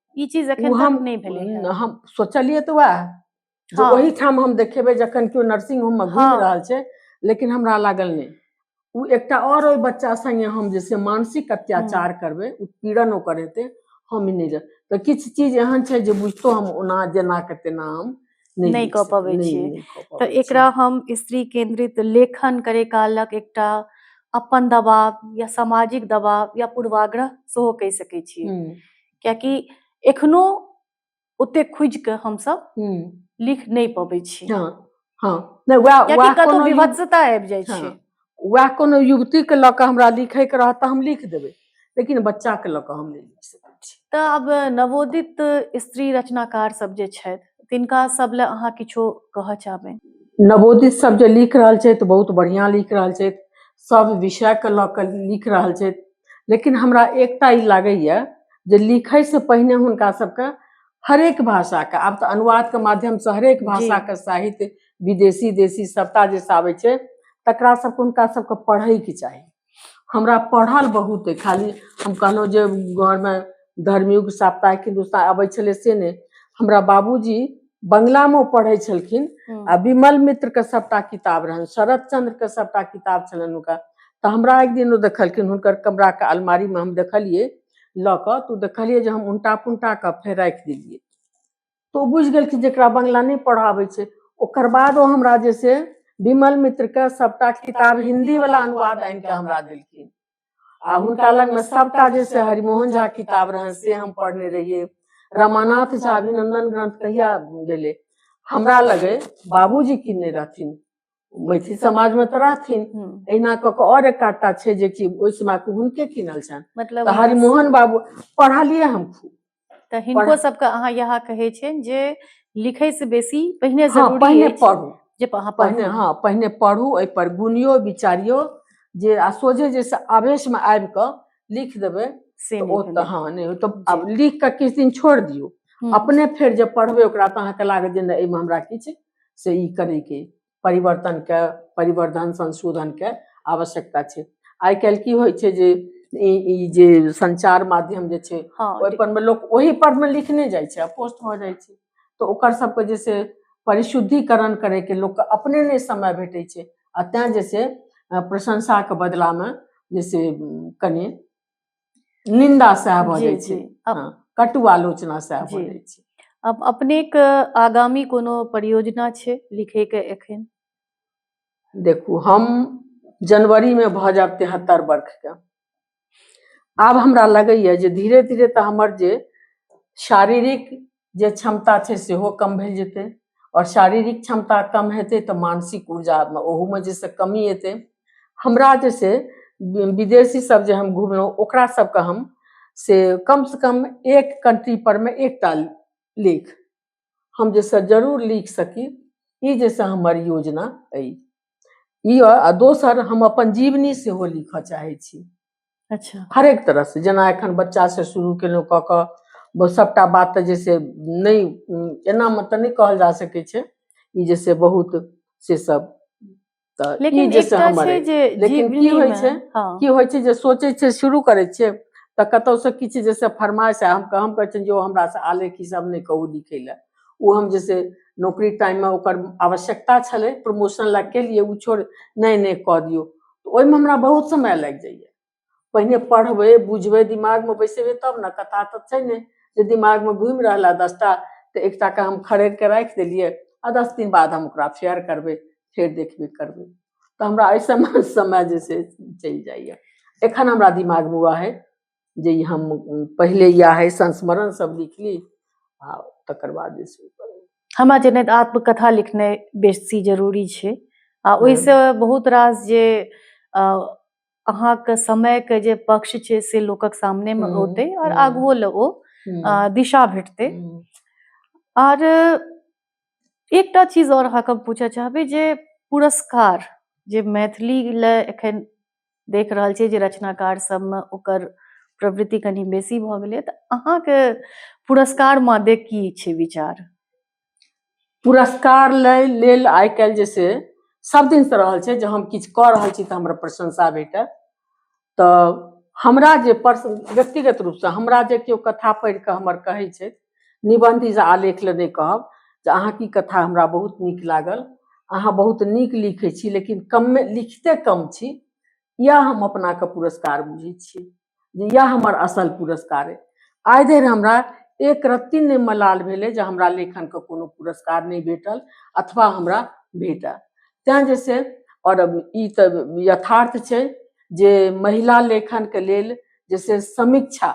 ई
चीज
ओ
एखन
हम तक नहि भेलै हेँ।
न,
हम सोचलियै तऽ
वएह जे हँ। ओहिठाम हम
देखेबै
जखन केओ नर्सिंग होम मे घुमि हँ। रहल छै
लेकिन
हमरा लागल नहि ओ एकटा आओर ओहि बच्चा संगे हम जे छै मानसिक अत्याचार करबै ओ पीड़न ओकर हेतै हम ई नहि जान तऽ किछु चीज एहन छै जे बुझितो हम ओना जेना के तेना हम नहि, नहि कऽ पबै नहि- छियै। नहि
कऽ तऽ पबै
एकरा छियै। हम स्त्री
केंद्रित लेखन करे कालक एकटा अपन दबाव या सामाजिक दबाव या पूर्वाग्रह सेहो कहि सकै छियै। हम्म, कियाकि एखनो ओते खुजि कऽ हमसभ हम्म, लिख नहि पबै छी हँ हँ
नहि वएह कियाकि वएह कतहु कोनो युग- विभत्सता आबि जाइ
छै हँ। वएह कोनो
युवतीके लऽ कऽ हमरा लिखैके रहत तऽ हम लिख देबै लेकिन बच्चाके लऽ कऽ हम नहि लिख सकै छी तऽ आब
नवोदित स्त्री रचनाकार सब जे छथि तिनका सब लए अहाँ किछो कहऽ चाहबै नवोदित सब
जे लिख रहल छथि बहुत बढ़िआँ लिख रहल छथि सब विषयके लऽ कऽ लिख रहल छथि लेकिन हमरा एकटा ई लागैए जे लिखैसँ पहिने हुनका सबके हरेक भाषाके आब तऽ अनुवादके माध्यमसँ हरेक भाषाके साहित्य विदेशी देशी सभटा जे आबै छै तकरा सभके हुनका सभके पढ़ैके चाही हमरा पढ़ल बहुत अइ खाली हम कहलहुँ जे घरमे धर्मयुग साप्ताहिक हिन्दुस्तान अबै छलै से नहि हमरा बाबूजी बंगलामे पढ़ै छलखिन हम्म। आ विमल मित्रके सभटा किताब रहनि शरद चंद्रके सभटा किताब छलनि हुनका तऽ हमरा एक दिन ओ देखलखिन हुनकर कमराके अलमारीमे हम देखलियै लऽ कऽ तऽ ओ देखलियै जे हम उनटा पुनटा कऽ फेर राखि देलियै तऽ ओ बुझि गेलखिन जेकरा बंगला नहि पढ़ाबै छै ओकर बाद ओ हमरा जे छै विमल मित्रके सभटा किताब हिन्दीवला अनुवाद आनि कऽ हमरा देलखिन आ हुनका लगमे सभटा जे छै हरिमोहन झा किताब रहनि से हम पढ़ने रहियै रमानाथ झा अभिनंदन ग्रंथ कहिया गेलै हमरा लगे बाबूजी की नहि रहथिन मैथिल समाजमे तऽ रहथिन एहिना कऽ कऽ आओर एक आधटा छै जेकि ओहि समयके हुनके कीनल छनि मतलब तऽ हरिमोहन
बाबू
पढ़लियै हम खूब तऽ हिनको पढ़-
सबके अहाँ इएह कहै छियनि जे लिखै से बेसी पहिने हँ जरूरी पहिने अछि पढ़ू जे
अहाँ
पहिने
पढ़ू
हँ पहिने
पढ़ू ओहिपर गुनियो विचारियो जे आ सोझे जे से आवेशमे आबि कऽ लिख देबै से तऽ नहि ओ भेलै। तऽ
हँ नहि ओ
तऽ
जी।
आब लिख कऽ किछु दिन छोड़ि दियौ हम्म, अपने फेर जे पढ़बै ओकरा तऽ अहाँके लागत जे नहि एहिमे हमरा किछु से ई करैके परिवर्तनके परिवर्धन संशोधनके आवश्यकता छै आइ काल्हि की होइ छै जे ई जे संचार माध्यम जे छै हँ, ओहिपर मे लोक ओहि पर मे लिखने जाइ छै पोस्ट भऽ जाइ छै तऽ ओकर सबके जे छै परिशुद्धिकरण करैके लोकके अपने नहि समय भेटै छै आ तैँ जे छै प्रशंसाके बदलामे जे छै कनि निंदा सएह भऽ जी जाइ जी छै अप- हँ, कटु आलोचना सएह भऽ जी। जाइ छै अप- अपनेक
आगामी कोनो परियोजना छै लिखैके एखन
देखू हम जनवरीमे भऽ जायब तिहत्तर वर्षके आब हमरा लगैए जे धीरे धीरे तऽ हमर जे शारीरिक जे क्षमता छै सेहो कम भेल जेतै आओर शारीरिक क्षमता कम हेतै तऽ मानसिक ऊर्जामे ओहूमे जे से कमी एतै हमरा जे छै विदेशी सब जे हम घुमलहुँ ओकरा सबके हम से कम से कम एक कंट्री पर मे एकटा लेख हम जे से जरूर लिख सकी ई जे से हमर योजना अइ ई आ दोसर हम अपन जीवनी सेहो लिखऽ चाहै छी अच्छा हरेक
तरहसँ जेना
एखन बच्चासँ शुरू केलहुँ कऽ कऽ ब- सभटा बात तऽ जे से नहि उम, एनामे तऽ नहि कहल जा सकै छै ई जे से बहुत से सब तऽ ई लेकिन जे से एकटा हमर छै अइ। जे लेकिन की होइ जीवनीमे- छै? हाँ, की होइ छै जे सोचै छै शुरू करै छियै तऽ कतौसँ किछु जे से फरमाइश आ हम हम कहै छियनि जे ओ हमरासँ आलेख ई सब नहि कहू लिखै लए ओ हम जे छै नौकरी टाइममे ओकर आवश्यकता छलै प्रमोशन लए केलियै ओ छोड़ नहि नहि कऽ दियौ ओहिमे हमरा बहुत समय लागि जाइए पहिने पढ़बै बुझबै दिमागमे बैसेबै तब ने कथा तऽ छै नहि जे दिमागमे घुमि रहल है दसटा तऽ एकटाके हम खड़ेर कऽ राखि देलियै आ दस दिन बाद हम ओकरा फेयर करबै फेर देखबे करबै तऽ हमरा एहि समय समय जे छै चलि जाइए एखन हमरा दिमागमे उएह हइ जे ई हम पहिले इएह अइ संस्मरण सब लिख ली आ तकर बाद जे छै हमरा जनैत
आत्मकथा लिखनाइ बेसी जरूरी छै आ ओहिसँ बहुत रास जे अ, अहाँके समयके जे पक्ष छै से लोकक सामनेमे हम्म, औतै आओर हम्म। आगुओ लए ओ हम्म, अ, दिशा भेटतै हम्म, आर एकटा चीज और अहाँके हम पूछऽ चाहबै जे पुरस्कार जे मैथिली लए एखन देख रहल छियै जे रचनाकार सबमे ओकर प्रवृत्ति कनि बेसी भऽ गेलै तऽ अहाँके पुरस्कार मादे की छै विचार पुरस्कार
लै लेल आइ काल्हि जे से सब दिन से रहल छै जे हम किछु कऽ रहल छी तऽ हमरा प्रशंसा भेटै तऽ हमरा जे व्यक्तिगत रूपसँ हमरा जे केओ कथा पढ़ि कऽ हमर कहै छै निबन्धी से आलेख लए नहि कहब जे अहाँके ई कथा हमरा बहुत नीक लागल अहाँ बहुत नीक लिखै छी लेकिन कमे लिखते कम छी इएह हम अपनाके पुरस्कार बुझै छी जे इएह हमर असल पुरस्कार अइ आइ धरि हमरा एक रत्ती नहि मलाल भेलै जे हमरा लेखनके कोनो पुरस्कार नहि भेटल अथवा हमरा भेटल तैँ जे से आओर ई तऽ यथार्थ छै जे महिला लेखनके लेल जे से समीक्षा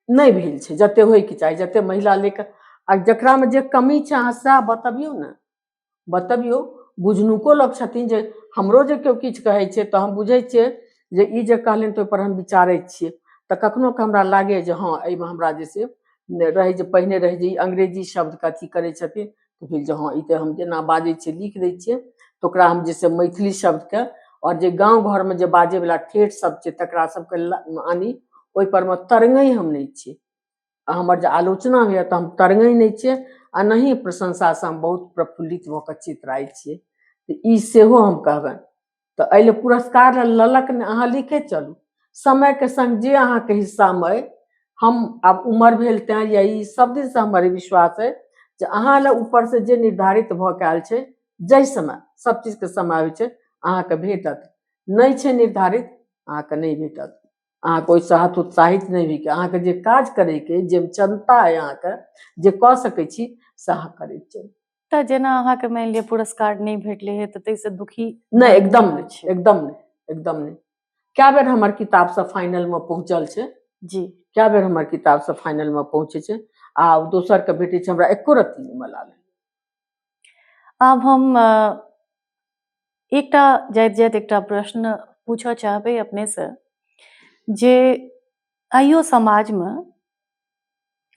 नहि भेल छै जते होइके चाही जते महिला लेके आ जकरामे जे कमी छै अहाँ सएह बतबियौ ने बतबियौ बुझनुको लोक छथिन जे हमरो जे केओ किछु कहै छै तऽ हम बुझै छियै जे ई जे कहलनि तऽ ओहिपर हम विचारै छियै तऽ कखनो कऽ हमरा लागैए जे हँ एहिमे हमरा जे छै रहै जे पहिने रहै जे ई अंग्रेजी शब्दके अथी करै छथिन तऽ भेल जे हँ ई तऽ हम जेना बाजै छियै लिख दै छियै तऽ ओकरा हम जे छै मैथिली शब्दके आओर जे गाँव घरमे जे बाजैवला ठेठ शब्द छै तकरा सबके आनी ओहिपर मे तरंगै हम नहि छियै आ हमर जे आलोचना होइए तऽ हम तरंगै नहि छियै आ नहि प्रशंसासँ हम बहुत प्रफुल्लित भऽ कऽ चितराइ छियै तऽ ई सेहो हम कहबनि तऽ एहि लेल पुरस्कार ललक ने अहाँ लिखे चलू समयके संग जे अहाँके हिस्सामे अइ हम आब उमर भेल तैँ या ई सब दिनसँ हमर विश्वास अइ जे अहाँ लए ऊपर से जे निर्धारित भऽ के आयल छै जाहि समय सब चीजके समय होइ छै अहाँके भेटत नहि छै निर्धारित अहाँके नहि भेटत अहाँके ओहिसँ हाथ उत्साहित नहि होइके अहाँके जे काज करैके जे क्षमता अइ अहाँके जे कऽ सकै छी से अहाँ करैत चलू तऽ जेना अहाँके
मानि लिअ पुरस्कार नहि भेटलै हे तऽ ताहिसँ दुखी नहि एकदम नहि
छै एकदम नहि एकदम नहि कए बेर हमर किताब सब फाइनल मे पहुंचल छै जी कए बेर
हमर किताब
सब फाइनल मे पहुंचे छै आ दोसर के भेटै छै हमरा एको रत्ती नहि मलाल आब
हम एकटा जाइत जाइत एकटा प्रश्न पूछऽ चाहबै अपने से जे आइयो समाजमे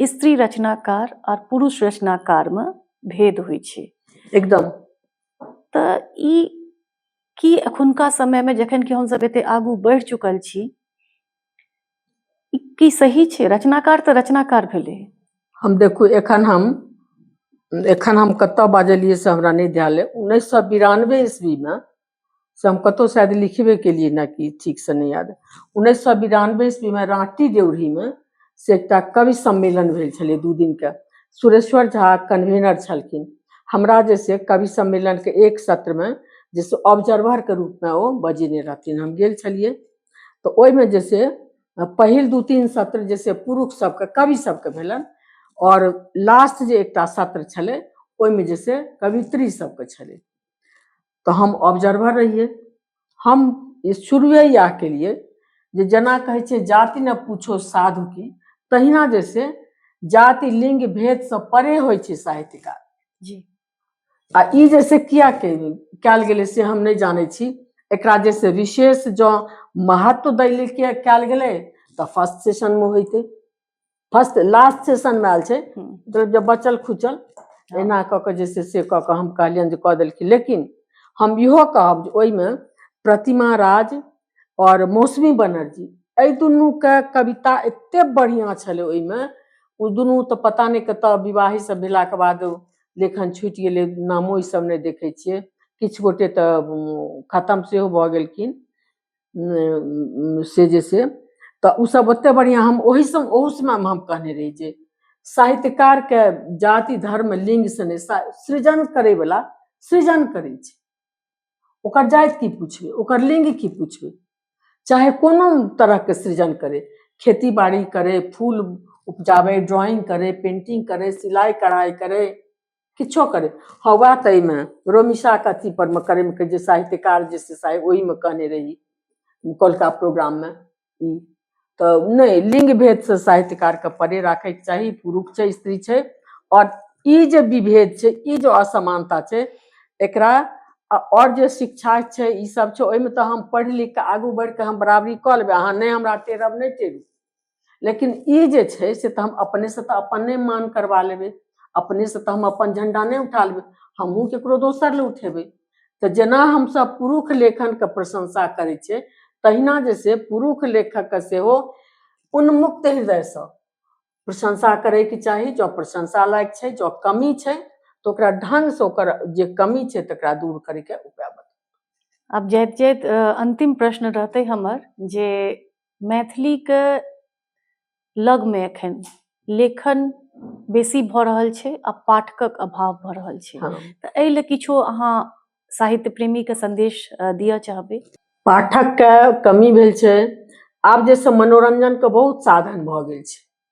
स्त्री रचनाकार और पुरुष रचनाकार में भेद होइ छै एकदम
त
ई की अखुनका समय में जखन कि हम सब एते आगू बढ़ चुकल छी की सही छै रचनाकार त रचनाकार भेले हम देखू
एखन हम एखन हम कतऽ बाजलियै से हमरा नहि ध्यान अइ उन्नैस सए बिरानवे ईस्वीमे से हम कतहु शायद लिखबे केलियै ने कि ठीकसँ नहि याद उन्नैस सए बिरानबे ईस्वीमे राँटी देउरीमे से एकटा कवि सम्मेलन भेल छलै दू दिनके सुरेश्वर झा कन्वीनर छलखिन हमरा जे से कवि सम्मेलनके एक सत्रमे जे से ऑब्जर्वरके रूपमे ओ बजेने रहथिन हम गेल छलियै तऽ ओहिमे जे से पहिल दू तीन सत्र जे से पुरुष सबके कवि सबके भेलनि आओर लास्ट जे एकटा सत्र छलै ओहिमे जे से कवित्री सबके छलै तऽ हम ऑब्जर्वर रहियै हम शुरुए इएह केलियै जे जेना कहै छै जाति ने पूछो साधु की तहिना जे से जाति लिंग भेदसँ परे होइ छै साहित्यकार जी
आ
ई जे से किया कयल गेलै से हम नहि जानै छी एकरा जे से विशेष जँ महत्व दै लेल कयल गेलै तऽ फर्स्ट सेशनमे होइतै फर्स्ट लास्ट सेशनमे आयल छै हम्म। मतलब जब बचल खुचल एना कऽ कऽ जे छै से कऽ कऽ हम कहलियनि जे कऽ देलखिन लेकिन हम इहो कहब जे ओहिमे प्रतिमा राज आओर मौसमी बनर्जी एहि दुनूके कविता एते बढ़िआँ छलै ओहिमे ओ दुनू तऽ पता नहि कतऽ विवाही सब भेलाके बाद लेखन छुटि गेलै नामो ईसब नहि देखै छियै किछु गोटे तऽ उम, खतम सेहो भऽ गेलखिन से जे से तऽ ओसभ ओतेक बढ़िआँ हम ओहि सम ओहू समयमे हम कहने रही जे साहित्यकारके जाति धर्म लिङ्गसँ नहि सा- सृजन करैवला सृजन करै छै ओकर जाति की पूछबै ओकर लिङ्ग की पूछबै चाहे कोनो तरहके सृजन करे खेती बाड़ी करे फूल उपजाबै ड्राइंग करे पेंटिंग करे सिलाइ कढ़ाइ करे किछो करै हँ वएह तऽ एहिमे रोमिशाके अथी परमे करैमे कहै जे साहित्यकार जे से साहित्य ओहिमे कहने रही कोलका प्रोग्राममे ई तऽ नहि लिंग भेदसँ साहित्यकारके परे राखैके चाही पुरुष छै स्त्री छै आओर ई जे विभेद छै ई जे असमानता छै एकरा आ आओर जे शिक्षा छै ई सब छै ओहिमे तऽ हम पढ़ि लिख कऽ आगू बढ़ि कऽ हम बराबरी कऽ लेबै अहाँ नहि हमरा टेरब नहि टेरू लेकिन ई जे छै से तऽ हम अपनेसँ तऽ अपन नहि मान करबा लेबै अपनेसँ तऽ हम अपन झण्डा नहि उठा लेबै हमहूँ ककरो दोसर लए उठेबै तऽ जेना हमसभ पुरुष लेखनके प्रशंसा करै छियै तहिना जे छै पुरुष लेखकके सेहो उन्मुक्त हृदयसँ प्रशंसा करैके चाही जँ प्रशंसा लायक छै जँ कमी छै तऽ ओकरा ढङ्गसँ ओकर जे कमी छै तकरा दूर करैके उपाय बताउ आब जाइत जाइत अ,
अन्तिम प्रश्न रहतै हमर जे मैथिलीके लगमे एखन लेखन बेसी भऽ रहल छै आ पाठकक अभाव भऽ रहल छै हँ। तऽ एहि लए
किछो
अहाँ साहित्य प्रेमीके संदेश अ, दिअ चाहबै पाठकके
कमी भेल छै आब जैसे मनोरंजनके बहुत साधन भऽ गेल छै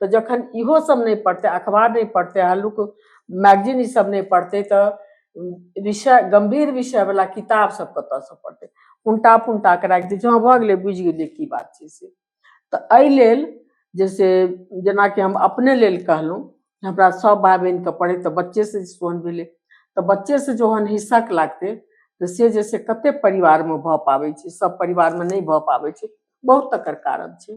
तऽ जखन इहो सब नहि पढ़तै अखबार नहि पढ़तै हल्लुक मैगजीन ई सब नहि पढ़तै तऽ विषय गम्भीर विषय वाला किताब सब कतऽसँ पढ़तै उनटा पुनटा कऽ राखि दै छै हँ भऽ गेलै बुझि गेलियै की बात छै से तऽ एहि लेल जे से जेनाकि हम अपने लेल कहलहुँ जे हमरा सब भाय बहिनके पढ़ै तऽ बच्चेसँ जे सोहन भेलै तऽ बच्चेसँ जहन हिस्सक लागतै तऽ से जे से कते परिवारमे भऽ पाबै छै सब परिवारमे नहि भऽ पाबै छै बहुत तकर कारण छै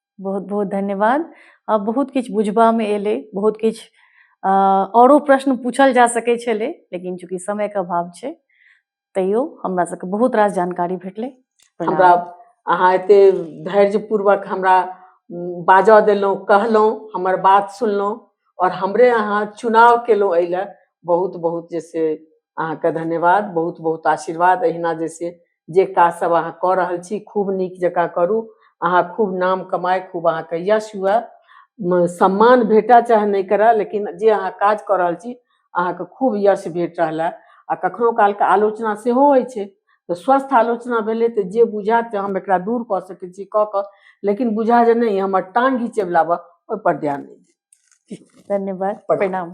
बहुत बहुत
धन्यवाद आ बहुत किछु बुझबामे एलै बहुत किछु आ, औरो प्रश्न पूछल जा सकै छलै लेकिन चूंकि समयके अभाव छै तैयो हमरा सबके बहुत रास जानकारी भेटलै प्रणाम। हमरा
अहाँ एते धैर्यपूर्वक हमरा उम, बाजऽ देलहुँ कहलहुँ हमर बात सुनलहुँ आओर हमरे अहाँ चुनाव केलहुँ एहि लए बहुत बहुत जैसे अहाँके धन्यवाद बहुत बहुत आशीर्वाद एहिना जैसे जे काज सब अहाँ कऽ रहल छी खूब नीक जकाँ करू अहाँ खूब नाम कमाए खूब अहाँके यश हुए म- सम्मान भेटा चाहे नहि करए लेकिन जे अहाँ काज कऽ रहल छी अहाँके खूब यश भेट रहल है आ कखनो कालके आलोचना सेहो होइ छै तऽ स्वस्थ आलोचना भेलै तऽ जे बुझायत जे हम एकरा दूर कऽ सकै छी कऽ कऽ लेकिन बुझा जे नहि हमर टांग घिचेवला बा ओहिपर ध्यान नहि दी। धन्यवाद प्रणाम। प्रणाम